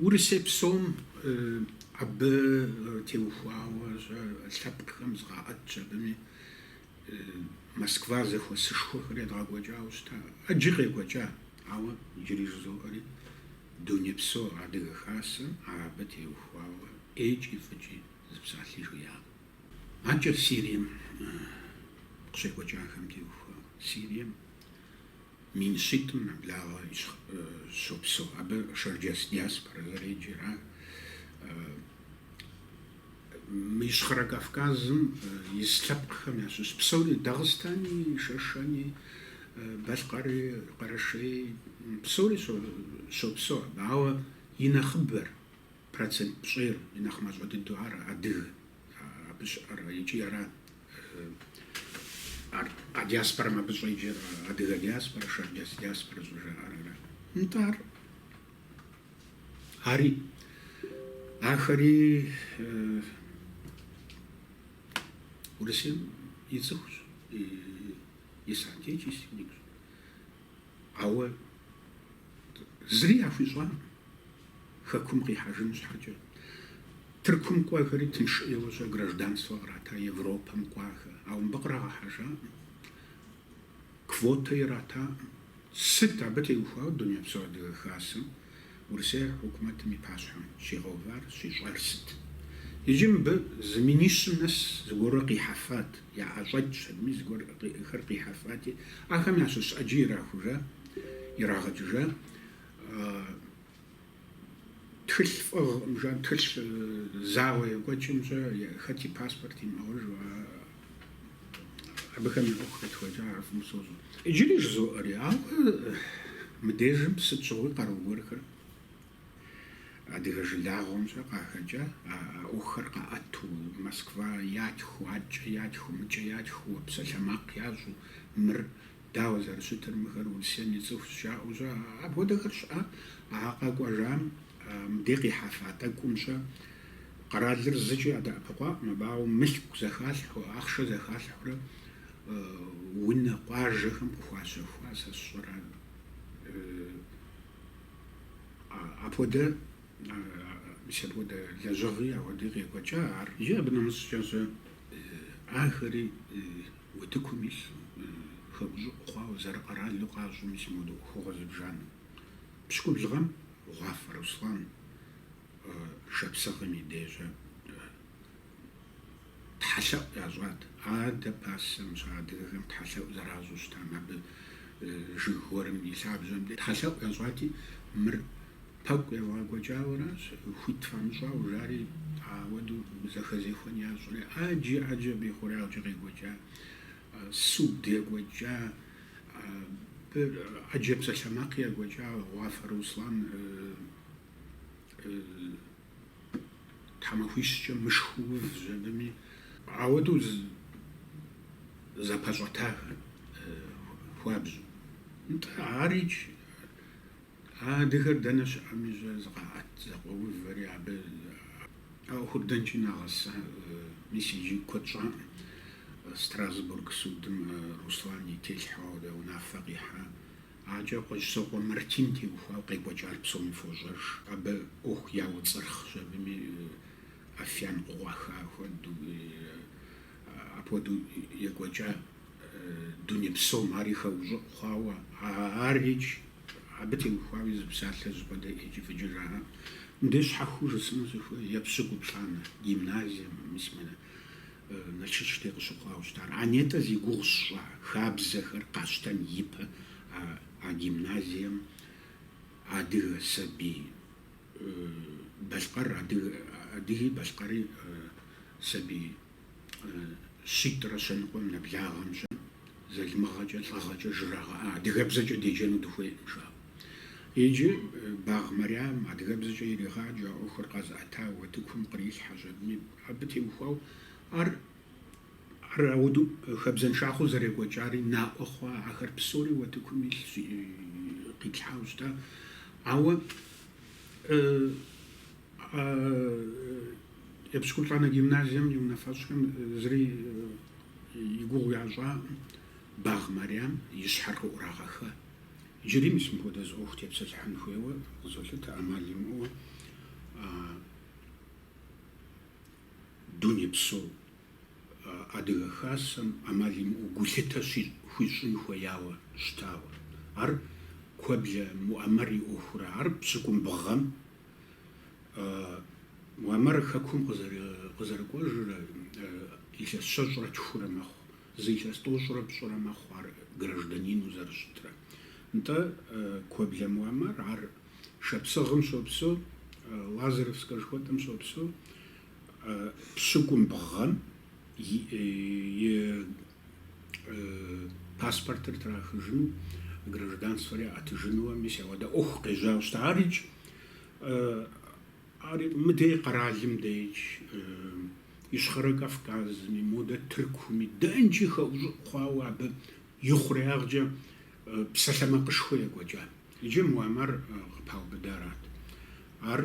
Урысей псом абы теухуауэ лъэпкъхэм зыкъаӏэтщ абыми Москва зэхуэсышхуэхэр едгъэкӏуэкӏауэ щыта. Ӏэджи къекӏуэкӏа, ауэ иджыри жызоӏэри Дунейпсо Адыгэ Хасэм ар абы теухуауэ ӏейкӏи фӏыкӏи зы псалъи жиӏакъым. Адэкӏэ Сирием къыщекӏуэкӏахэм теухуа. Сирием мин щитӏым нэблагъэ щопсэу. Абы шэрджэс диаспорэ зэреджэр. Ар мы Ищхъэрэ Кавказым ис лъэпкъхэм ящыщ. Псори, Дагъыстани, Шэшэни, Балъкъэри, Къэрэшей, псори щопсэу абы. Ауэ и нэхъыбэр Процент пщӏейр и нэхъ мащӏэ дыдэу ар адыгэ, абы щыӏэр икӏи ара а диаспорэм абы щӏеджэр адыгэ диаспорэ, шэрджэс диаспорэ щӏыжаӏэр ара. Нтӏэ ар ари ахэри Урысейм и цӏыхущ, и соотечественникщ. Ауэ зыри яхуищӏакъым. Хэкум къихьэжын щхьэкӏэ, Тыркум кӏуэхэри тынш ӏейуэ-щэ гражданствэ кърата Европэм кӏуахэ, ауэ мыбы кърагъэхьэжакъым, квотэ иратакъым. Сыт абы теухуауэ Дунейпсо Адыгэ Хасэм Урысей хьукумэтым и пащхьэм щигъэувар, щищӏар сыт? Иджы мыбы зы минищым нэс зыгуэрурэ къихьэфат, яӏэщӏэкӏ щыгъуи зыгуэрхэр къихьэфати, ахэм ящыщ ӏэджи ирахужа, ирагъэкӏыжа. Тхылъ фӏыгъ мыжан тхылъ зауэ екӏуэкӏым-щэ хэт и паспорт имыӏэуэ жыӏэ абыхэм я ӏуэху къетхуэкӏа ар фӏым сощӏэ. Иджыри жызоӏэри, ауэ мыдежым сыт щыгъуи къару гуэрхэр адыгэ жылагъуэм-щэ къахэкӏа, а ӏуэхухэр къаӏэту, Москва ятху, акӏэ ятху, мыкӏэ ятху, псалъэмакъ ящӏу, мыр Дауэ зэрыщытыр мыхэр Урысейм и цӏыхущ жаӏэу-щэ? Апхуэдэхэр щыӏа. А къэкӏуэжам мыдей къихьэфа тӏэкӏум-щэ къэралыр зыкӏи адэӏэпыкъуакъым, абауэ мылъку зэхалъхьэу, ахъшэ зэхалъхьэурэ унэ, къуажэхэм къыхуащэхуа сэ сщӏэрэ апхуэдэ, мис апхуэдэ лэжьыгъи ахуэдэи къекӏуэкӏа ар икӏи абы нэмыщӏкӏэ-щэ ахэри. Утыкум илъ хэӏущӏыӏу хъуауэ зэрыкъэралу къащӏэ мис мыуэдэ ӏуэхугъуэ зыбжанэ. Пщыкӏубл гъэм Гъуафэ Руслан шапсыгъым и деж-щэ тхьэлъэӏу ящӏат. Адэ пасэм-щэ адыгэхэм тхьэлъэӏу зэращӏу щытам абы жыг гуэрым и лъабжьэмкӏэ тхьэлъэӏу ящӏати, мыр Пэкӏу евгъэкӏуэкӏауэращ, хуит фамыщӏауэ, жари ауэдэу зэхэзехуэн ящӏри, ӏэджи ӏэджи абы и хъуреягъкӏэ къекӏуэкӏа, суд екӏуэкӏа, абы ӏэджэ псалъэмакъи екӏуэкӏа, Гъуафэ Руслан тхьэмахуищкӏэ мышхэу увщ абыми. Ауэдэу зэпэщӏэтахэ хуабжьу. Нтӏэ, арикӏ. А адыгэр дэнэ щыӏэми щӏэ зыкъаӏэт зэкъуоувэри абы а ӏуэхур дэнкӏи нагъэсэ. Мис иджы куэд щӏакъым. Страсбург судым Руслан и телъхьэу абы унафэ къихьа адэкӏэ Кӏуэщӏысокъуэ Мартин теухуауэ къекӏуэкӏар псоми фощӏэж. Абы ӏуэху яуцӏырхъщ абыми афиян къыкъуаха хуэдэу. Апхуэдэу екӏуэкӏа дуней псом ари хэӏущӏыӏу хъуауэ, ар икӏ, абы теухуауи зы псалъэ жьыпӏэдэ икӏыфӏыкӏэ жаӏэ. Мыбдеж щхьэхыу жысӏэну сыхуей, епщыкӏуплӏанэ, гимназием, мис мынэ Налшык дей къыщыхъуауэ щытар. А нетӏэ зи гугъу сщӏа хабзэхэр къащтэн ипэ а гимназием адыгэ сабий. Балъкъэр, адыги, балъкъэри, сабий щитӏрэ щэныкъуэм нэблагъэм, залымыгъэкӏэ, лӏыгъэкӏэ жрагъэӏа, адыгэбзэкӏэ деджэну дыхуейкъым, жаӏэу. Иджы Багъ Марям адыгэбзэкӏэ иригъаджэ, а ӏуэхур къэзыӏэта утыкум кърилъхьэ щӏэбийм, абы теухуауэ ар Ар ауэдэу хабзэншагъэу зэрекӏуэкӏари наӏуэ хъуа, ахэр псори утыкум илъ къитлъхьауэ щыта. Ауэ Епщыкӏуплӏанэ гимназием и унафэщӏхэм зыри и гугъу ящӏакъым, Багъ Марям и щхьэр къыӏурагъэха. Иджыри мис мыпхуэдэ зы ӏуэху тепсэлъыхьын хуейуэ къызолъытэ, ӏэмал имыӏэуэ. Дунейпсо Адыгэ Хасэм ӏэмал имыӏэу гулъытэ хуищӏын хуеяуэ щытауэ. Ар Куэблэ Муӏэмэр и ӏуэхура, ар пщыкӏубгъум Муӏэмэр хэкум къызэрыкӏуэжрэ илъэс щэщӏрэ тхурэ мэхъу, зы илъэс тӏощӏрэ пщӏырэ мэхъу ар гражданину зэрыщытрэ. Нтӏэ, Куэблэ Муӏэмэр ар Шапсыгъым щопсэу, Лазаревскэ жыхуэтӏэм щопсэу, пщыкӏубгъум и паспортыр трахыжыну, гражданствэр яӏэтыжынууэ, мис ауэдэ ӏуэху къежьауэ щыта. Ар икӏ, ар мыдей къэралым деж, Ищхъэрэ Кавказми, модэ Тыркуми, дэнкӏи хэӏущӏыӏу хъуауэ абы и хъуреягъкӏэ псалъэмакъышхуэ екӏуэкӏа. Иджы Муӏэмэр къыпаубыдарат. Ар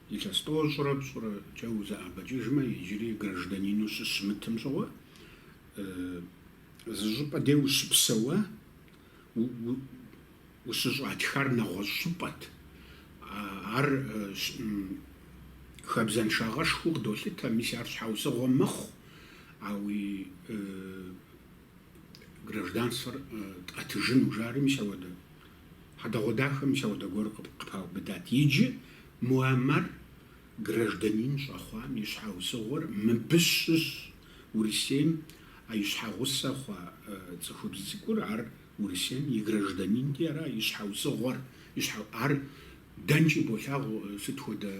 илъэс тӏощӏрэ пщӏырэкӏэ узэӏэбэкӏыжмэ, иджыри гражданину щыщымытым щыгъуэ, зы щӏыпӏэ дей ущыпсэуэ, ущыщӏатхар нэгъуэщӏ щӏыпӏэт. Ар хабзэншагъэшхуэу къыдолъытэ, мис ар щхьэусыгъуэ мэхъу, ауи Гражданствэр тӏэтыжыну жари мис ауэдэ хьэдэгъуэдахэ, мис ауэдэ гуэр къыпаубыдат. Иджы Муаммар гражданин щӏэхъуам и щхьэусыгъуэр мыбы щыщ. Урысейм а и щхьэгъусэ хъуа цӏыхубз цӏыкӏур, ар Урысейм и гражданинти ара и щхьэусыгъуэр, ар Дэнкӏи болъагъу сыт хуэдэ,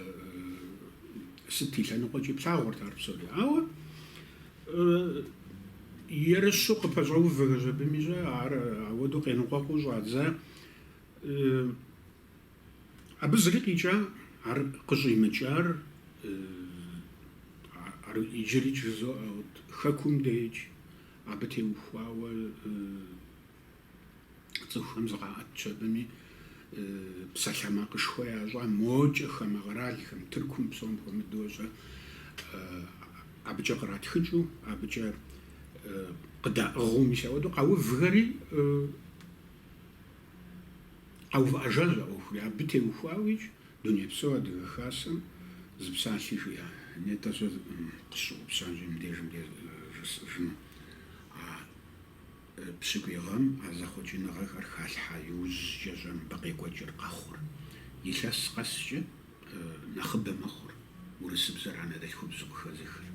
сыт и лъэныкъуэкӏи плъагъурт ар псори. Ауэ ерыщу къыпэщӏэувахэщ абым щӏэ, ар ауэдэу къеныкъуэкъуу щӏадза. Абы зыри къикӏакъым, ар къыщӏимыкӏар, ар иджыри жызоӏэ, хэкум деж абы теухуауэ, цӏыхухэм зыкъаӏэтщ абыми, псалъэмакъышхуэ ящӏа мокӏэ хамэ къэралхэм, Тыркум псом хуэмыдэу щӏэ, абыкӏэ къратхыкӏыу, абыкӏэ къыдаӏыгъыу, мис ауэдэу къэувхэри къэувыӏэжащ а ӏуэхури. Абы теухуауикӏ Дунейпсо Адыгэ Хасэм зы псалъи жиӏакъым. Нетӏэ сэ къысщыгъупщащ мыбдежым жысӏэжыну. Пщыкӏуй гъэм а зэхъуэкӏыныгъэхэр халъхьа иужькӏэ щӏэ мыбы къекӏуэкӏыр къэхъур. Илъэс къэскӏэ нэхъыбэ мэхъур урысыбзэр анэдэлъхубзу къыхэзыхыр.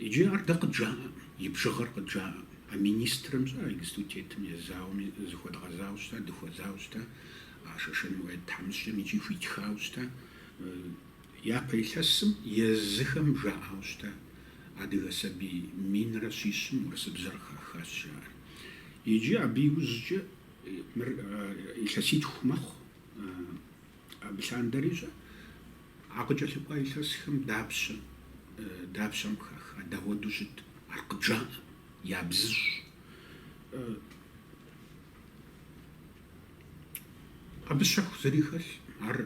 Иджы ар дэ къыджаӏэкъым, и бжыгъэр къыджаӏэкъым. А министрым щӏэ, а иджыпсту тетым Езауэми зыхуэдгъэзауэ щыта, дыхуэзауэ щыта, а Шэшэн Мурэд тхьэмыщкӏэм икӏи хуитхауэ щыта. Япэ илъэсым езыхэм жаӏэу щыта адыгэ сабий минрэ щищым урысыбзэр хахащ жаӏэри. Иджы абы иужькӏэ мыр илъэситху мэхъу, абы лъандэрэ щӏэ. А къыкӏэлъыкӏуа илъэсхэм дапщэ, дапщэм хаха, дауэду щыт, ар къыджаӏэкъым, ябзыщӏ. Абы щэху зыри хэлъкъым, ар.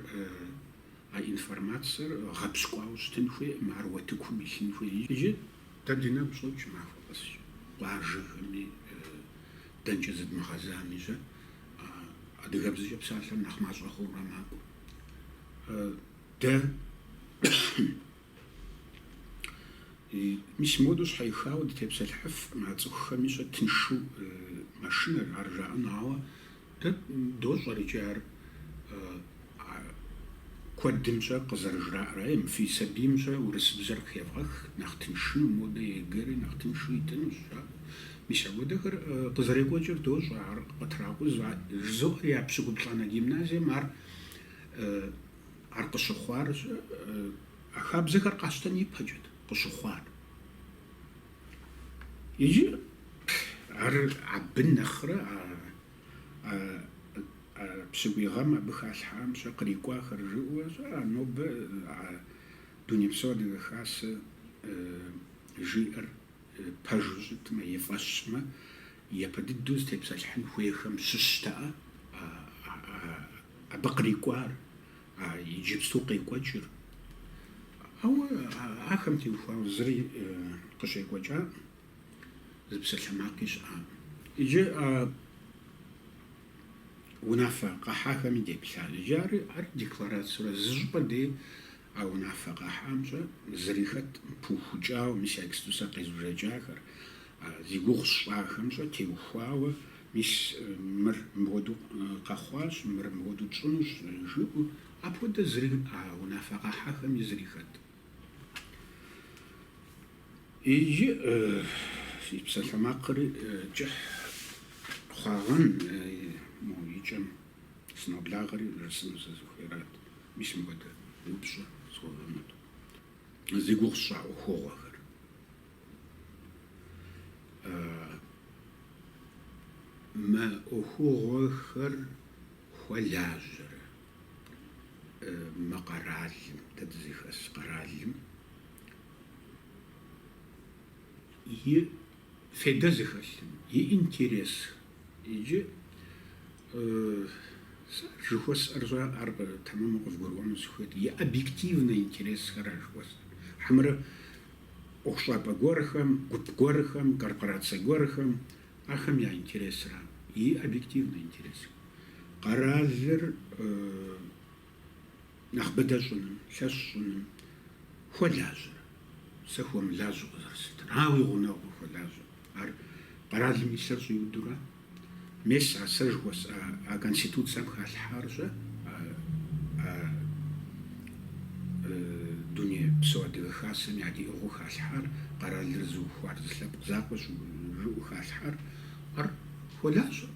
А информацэр гъэпщкӏуауэ щытын хуейкъым, ар утыкум илъын хуей икӏи дэ ди нэгу щӏокӏ махуэ къэскӏэ, къуажэхэми, дэнкӏэ зыдмыгъэзами щэ, адыгэбзэкӏэ псалъэр нэхъ мащӏэ хъуурэ макӏуэ. Дэ мис модэу щхьэихауэ дытепсэлъыхьыфкъым а цӏыхухэми щэ тыншу мэшынэр ар жаӏэну, ауэ Дэ дощӏэр иджы ар куэдым щӏэ къызэрыжраӏэр. Ай, фи сабийм щэ урысыбзэр къыхевгъэх, нэхъ тыншыну, модэ ЕГЭ-ри нэхъ тыншу итынущ, жаӏэу. Мис апхуэдэхэр къызэрекӏуэкӏыр дощӏэ, ар къытракъузу. А жызоӏэр епщыкӏуплӏанэ гимназием ар ар къыщыхъуар а хабзэхэр къащтэн ипэкӏэт къыщыхъуар. Иджы ар абы нэхърэ а пщыкӏуй гъэм абы халъхьам щэ кърикӏуахэр жыӏэу щэ, а нобэ а Дунейпсо Адыгэ Хасэ жиӏэр пэжу щытмэ и фӏэщмэ, япэ дыдэу зытепсэлъыхьын хуейхэм щыщтэӏэ абы кърикӏуар. А иджыпсту къекӏуэкӏыр. Ауэ ахэм теухуауэ зыри къыщекӏуэкӏакъым, зы псалъэмакъи щыӏакъым. Иджы а унафэ къэхьахэми деплъащ. Иджы ар ар декларацэурэ зы щӏыпӏэ дей а унафэ къэхьам щэ зыри хэткъым, пыухыкӏауэ, мис а иджыпсту сэ къезбжэкӏахэр, зи гугъу сщӏахэм щэ теухуауэ Мис мыр мыпхуэдэу къэхъуащ, мыр мыпхуэдэу тщӏынущ, жыӏэу апхуэдэ зыри а унафэ къэхьахэми зыри хэт. Иджы си псалъэмакъыр кӏыхь хъуагъэн, мо и кӏэм сыноблагъэри жысӏэну сызыхуейрат, мис мыпхуэдэ упщӏэ схуэвэмыт, зи гугъу сщӏа ӏуэхугъуэхэр. Мы ӏуэхугъуэхэр хуэлажьэрэ мы къэралым, дэ дызыхэс къэралым и фейдэ зыхэлъым, и интерес иджы сэ ар жыхуэсӏэр щэ, ар тэмэму къывгурыӏуэну сыхуейт, и объективнэ интересхэр ар жыхуэсӏэр. Хьэмэрэ ӏуэхущӏапӏэ гуэрхэм, гуп гуэрхэм, корпорацэ гуэрхэм, ахэм я интересра, и объективнэ интересхэм, къэралыр нэхъ быдэ щӏыным, лъэщ щӏыным хуэлажьэрэ. Сэ хуэмылажьэу къызэрыслъытэр, ауи гъунэгъуу хуэлажьэ. Ар къэралым и лъэр щӏиудурэ. Мес а сэ жыхуэсӏа а конституцэм халъхьар щэ а Дунейпсо Адыгэ Хасэм ядиӏыгъыу халъхьар, къэралыр зыухуар зы лъэпкъ закъуэщ жыӏэу халъхьар ар хуэлажьэ.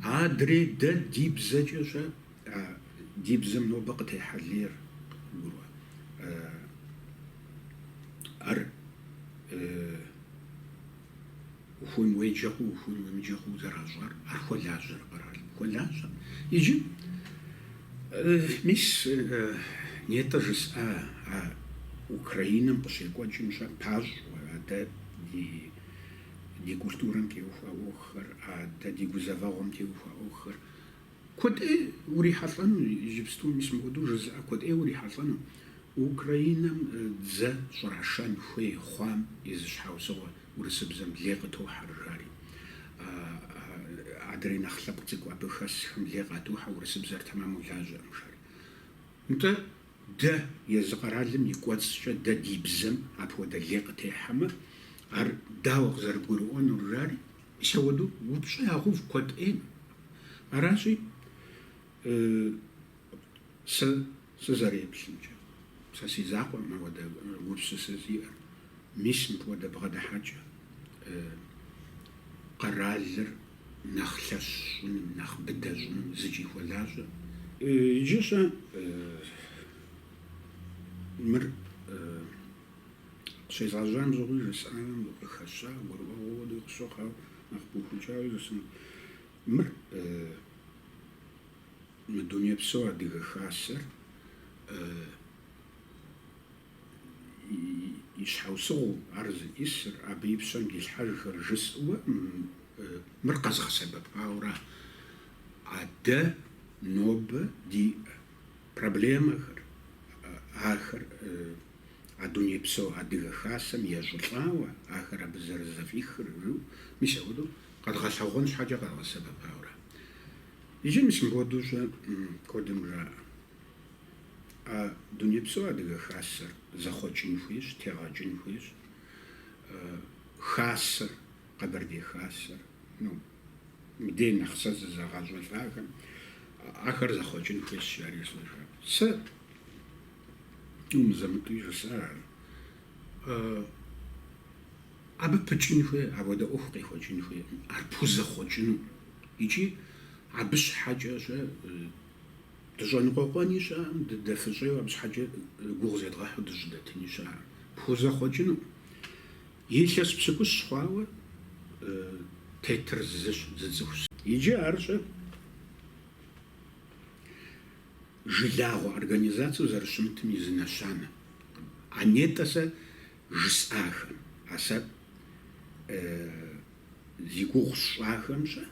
Адрей дэ ди бзэкӏэ щэ а ди бзэм нобэ къытехьэ лейр къыбгурыӏуэ ар? Ухуейм уеджэ хъу, ухуейм уемыджэ хъууэ зэращӏар, ар хуэлажьэрэ къэралым? Хуэлажьэ. Иджы, мис, нетӏэ жысӏа а Украинэм къыщекӏуэкӏым щэ пащӏэу, адэ ди ди культурэм теухуа ӏуэхухэр, адэ ди гузэвэгъуэм теухуа ӏуэхухэр Куэд ӏей урихьэлӏэну, иджыпсту мис мыпхуэдэу жызыӏэ, куэд ӏей урихьэлӏэну Украинэм дзэ щӏрашэн хуей хъуам и зы щхьэусыгъуэ урысыбзэм лей къытохьэр жари. Адрей нэхъ лъэпкъ цӏыкӏу абы хэсхэм лей къатохьэ урысыбзэр тэмэму лажьэӏым жари. Нтӏэ, дэ, езы къэралым и кӏуэцӏкӏэ дэ ди бзэм апхуэдэ лей къытехьэмэ, ар дауэ къызэрыбгурыӏуэнур жари? Апхуэдэу упщӏэ ягъэув куэд ӏейм. Аращи, сэ сызэреплъымкӏэ, сэ си закъуэм ауэдэ гупсысэ зиӏэр. Мис мыпхуэдэ бгъэдыхьэкӏэ къэралыр нэхъ лъэщ щӏыным, нэхъ быдэ щӏыным зыкӏи хуэлажьэ. Иджы-щэ мыр? Щезгъэжьам щыгъуи жысӏэнум къыхэща, гурыӏуэгъуэ хуэдэ къысщохъу, ауэ нэхъ пыухыкӏауи жысӏэнут. Мыр мы дунейпсо адыгэ хасэр и щхьэусыгъуу ар зиӏысыр, абы и пщэм дилъхьэжхэр жысӏэуэ, мыр къэзгъэсэбэпауэра а дэ нобэ ди Проблемэхэр, ахэр а дунейпсо Адыгэ Хасэм ещӏылӏауэ, ахэр абы зэрызэфӏихыр, жу, мис апхуэдэу къэдгъэлъэгъуэн щхьэкӏэ къэдгъэсэбэпауэра? Иджы мис мыпхуэдэу-щэ, куэдым жаӏэ, а дунейпсо Адыгэ Хасэр зэхъуэкӏын хуейщ, тегъэкӏын хуейщ, Хасэр, Къэбэрдей Хасэр, ну, Мыдрей нэхъ сэ зызэгъэщӏэлӏахэм ахэр зэхъуэкӏын хуейщ, жари жысӏэжа. Сэ мызэ-мытӏэуи жысӏар ар. Абы пыкӏын хуей, апхуэдэ ӏуэху къехуэкӏын хуейкъым, ар пхузэхъуэкӏыну. Икӏи абы щхьэкӏэ-щэ дыщӏэныкъуэкъуэни щыӏэкъым, дыдэфыщӏейуэ абы щхьэкӏэ гугъу зедгъэхьу дыщӏыдэтыни щыӏэкъым. Пхузэхъуэкӏыну. Илъэс пщыкӏущ хъуауэ тетыр зыщ, зы цӏыхущ. Иджы ар-щэ жылагъуэ организацэу зэрыщымытым и зы нэщанэ. А нетӏэ сэ жысӏахэм, а сэ зи гугъу сщӏахэм-щэ,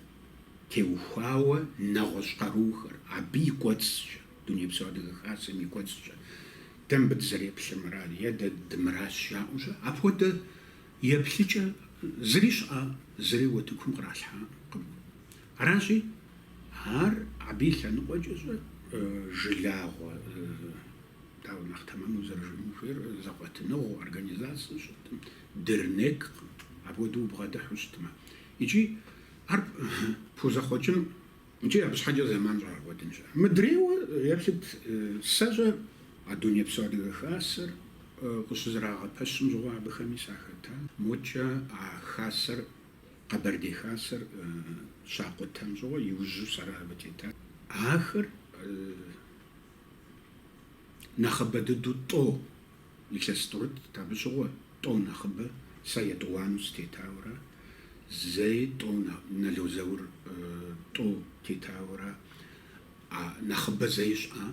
теухуауэ нэгъуэщӏ къаруухэр, абы и кӏуэцӏкӏэ. Дунейпсо Адыгэ Хасэм и кӏуэцӏкӏэ дэ мыбы дызэреплъыр мыра е дэ дымыращ жаӏэу-щэ, апхуэдэ еплъыкӏэ зыри щыӏа, зыри утыкум къралъхьакъым. Аращи, ар абы и лъэныкъуэкӏэ-щэ жылагъуэ, дауэ нэхъ тэмэму зэрыжыӏэн хуейр, зэкъуэтыныгъэу, организацэ щытым, дырнеккъым, апхуэдэу убгъэдыхьу щытмэ. Икӏи ар пхузэхъуэкӏын Икӏи абы щхьэкӏэ зэман щӏэбгъэкӏуэдын щыӏэ. Мыдрейуэ еплъыт, сэ щӏэ а дунейпсо Адыгэ Хасэр къыщызэрагъэпэщым щыгъуэ абыхэми сахэта. Мокӏэ а Хасэр, Къэбэрдей Хасэр щакъутэм щыгъуэ иужьу сэрэ абы тета. Ахэр нэхъыбэ дыдэу тӏо Илъэс тӏурыттӏ, абы щыгъуэ тӏо нэхъыбэ сэ етӏуанэу сытетауэра, зэи тӏо нэло зэур тӏо тетауэра, а нэхъыбэ зэи щӏа?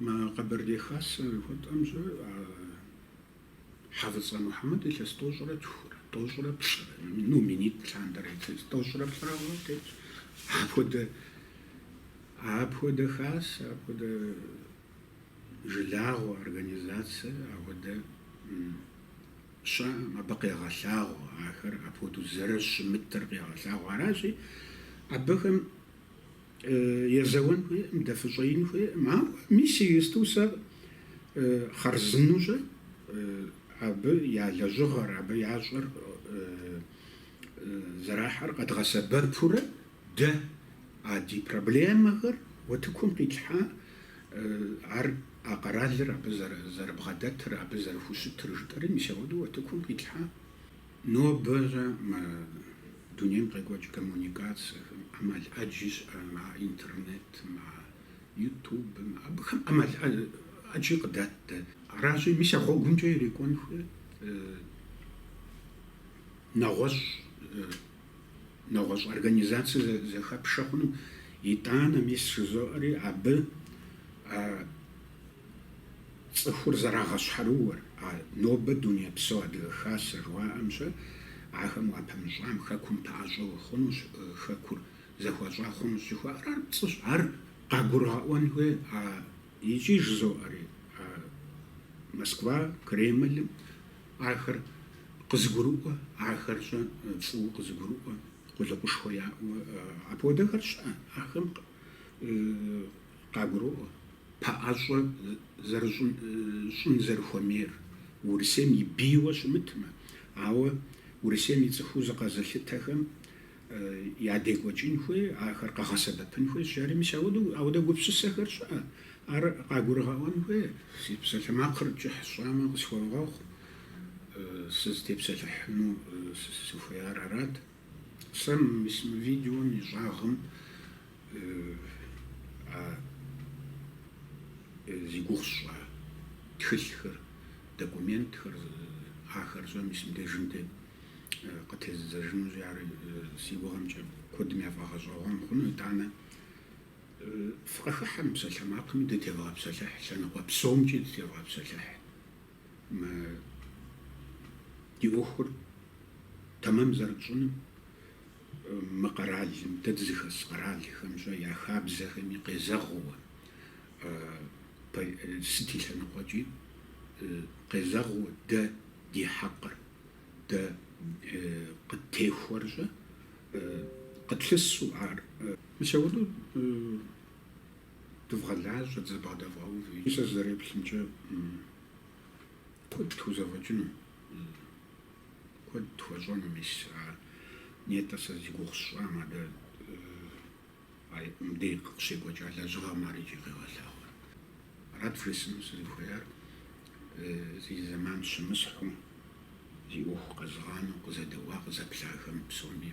Мы Къэбэрдей Хасэ хуэтӏэмщӏэ а Хьэфӏыцӏэ Мухьэмэд илъэс тӏощӏрэ тхурэ, тӏощӏрэ плӏырэ, ну, минитӏ лъандэрэ илъэс тӏощӏрэ плӏырэ хъуауэ тетщ. Апхуэдэ, апхуэдэ Хасэ, апхуэдэ жылагъуэ организацэ апхуэдэ щыӏэкъым, абы къегъэлъагъуэ ахэр апхуэдэу зэрыщымытыр къегъэлъагъуэ. Аращи, абыхэм езэуэн хуейкъым, дэфыщӏеин хуейкъым. Ауэ мис иджысту сэ хъарзынэу щӏэ абы я лэжьыгъэр, абы ящӏэр зэрахьэр къэдгъэсэбэпурэ дэ а ди проблемэхэр утыкум къитлъхьа Ар а къэралыр абы зэрыбгъэдэтыр, абы зэрыхущытыр жытӏэри, мис ауэдэу утыкум къитлъхьа. Нобэ щӏэ мы дунейм къекӏуэкӏ коммуникацэхэм ӏэмал ӏэджи щыӏэ, мы интернет, мы ютубым, абыхэм ӏэмал ӏэджи къыдат дэ. Аращи, мис а гъуэгумкӏэ ирекӏуэн хуейт нэгъуэщӏ нэгъуэщӏ организацэ зэхэпшэ хъуну, итӏанэ мис жызоӏэри абы а цӏыхур зэрагъэщхьэрыууэр, а нобэ Дунейпсо Адыгэ Хасэ жыхуаӏэм щэ, ахэм уапымыщӏам хэкум пэӏэщӏэу хъунущ, хэкур зэхуащӏа хъунущ жыхуаӏэр ар пцӏыщ, ар къагурыгъэӏуэн хуей, а икӏи жызоӏэри а Москва, Кремлым Ахэр къызыгурыӏуэ, ахэр щӏэ фӏыуэ къызыгурыӏуэ, къулыкъушхуэ яӏэу, апхуэдэхэр щыӏэ, ахэми къагуроӏуэ пэӏэщӏэ зэрыщӏын, щӏын зэрыхуэмейр, Урысейм и бийуэ щымытмэ. Ауэ Урысейм и цӏыхуу зыкъэзылъытэхэм ядекӏуэкӏын хуей, ахэр къэгъэсэбэпын хуей жари, мис ауэдэ гупсысэхэр щыӏэ, ар къагурыгъэӏуэн хуей. Си псалъэмакъыр кӏыхь сщӏамэ, къысхуэвгъэгъу, сызытепсэлъыхьыну сыхуеяр арат. Сэ мис мы видеом и щӏагъым а зи гугъу сщӏа тхылъхэр, документхэр, ахэр щӏэ мис мыбдежым тет. къытезыдзэжынущи, ар си гугъэмкӏэ куэдым яфӏэгъэщӏэгъуэн хъуну, итӏанэ фыкъыхыхьэ мы псалъэмакъми дытевгъэпсэлъыхь, лъэныкъуэ псомкӏи дытевгъэпсэлъыхь. Мы ди ӏуэхур тэмэм зэрытщӏыным, мы къэралым, дэ дызыхэс къэралхэм щӏэ я хабзэхэми къезэгъыуэ, сыт и лъэныкъуэкӏи къезэгъыуэ дэ ди хьэкъыр. Дэ къыттехуэр щӏэ къытлъысу ар. Мыщэуну дывгъэлажьэ, дызэбгъэдэвгъэувэ. Сэ сызэреплъымкӏэ, куэд тхузэфӏэкӏыну, куэд тхуэщӏэну мис ар. Нетӏэ, сэ зи гугъу сщӏам адэ. Ар мыбдеж къыщекӏуэкӏа лэжьыгъэм ар иджы къегъэлъагъуэр. Арат вжесӏэну сызыхуеяр. Зи зэман щымысхьу, зи ӏуэху къэзыгъанэу къызэдэӏуа къызэплъахэм псоми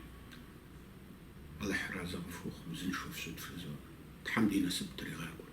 Алыхьыр арэзы къыфхухъу, узыншэу фщыт жызоӏэ. Тхьэм ди насып тригъакӏуэ.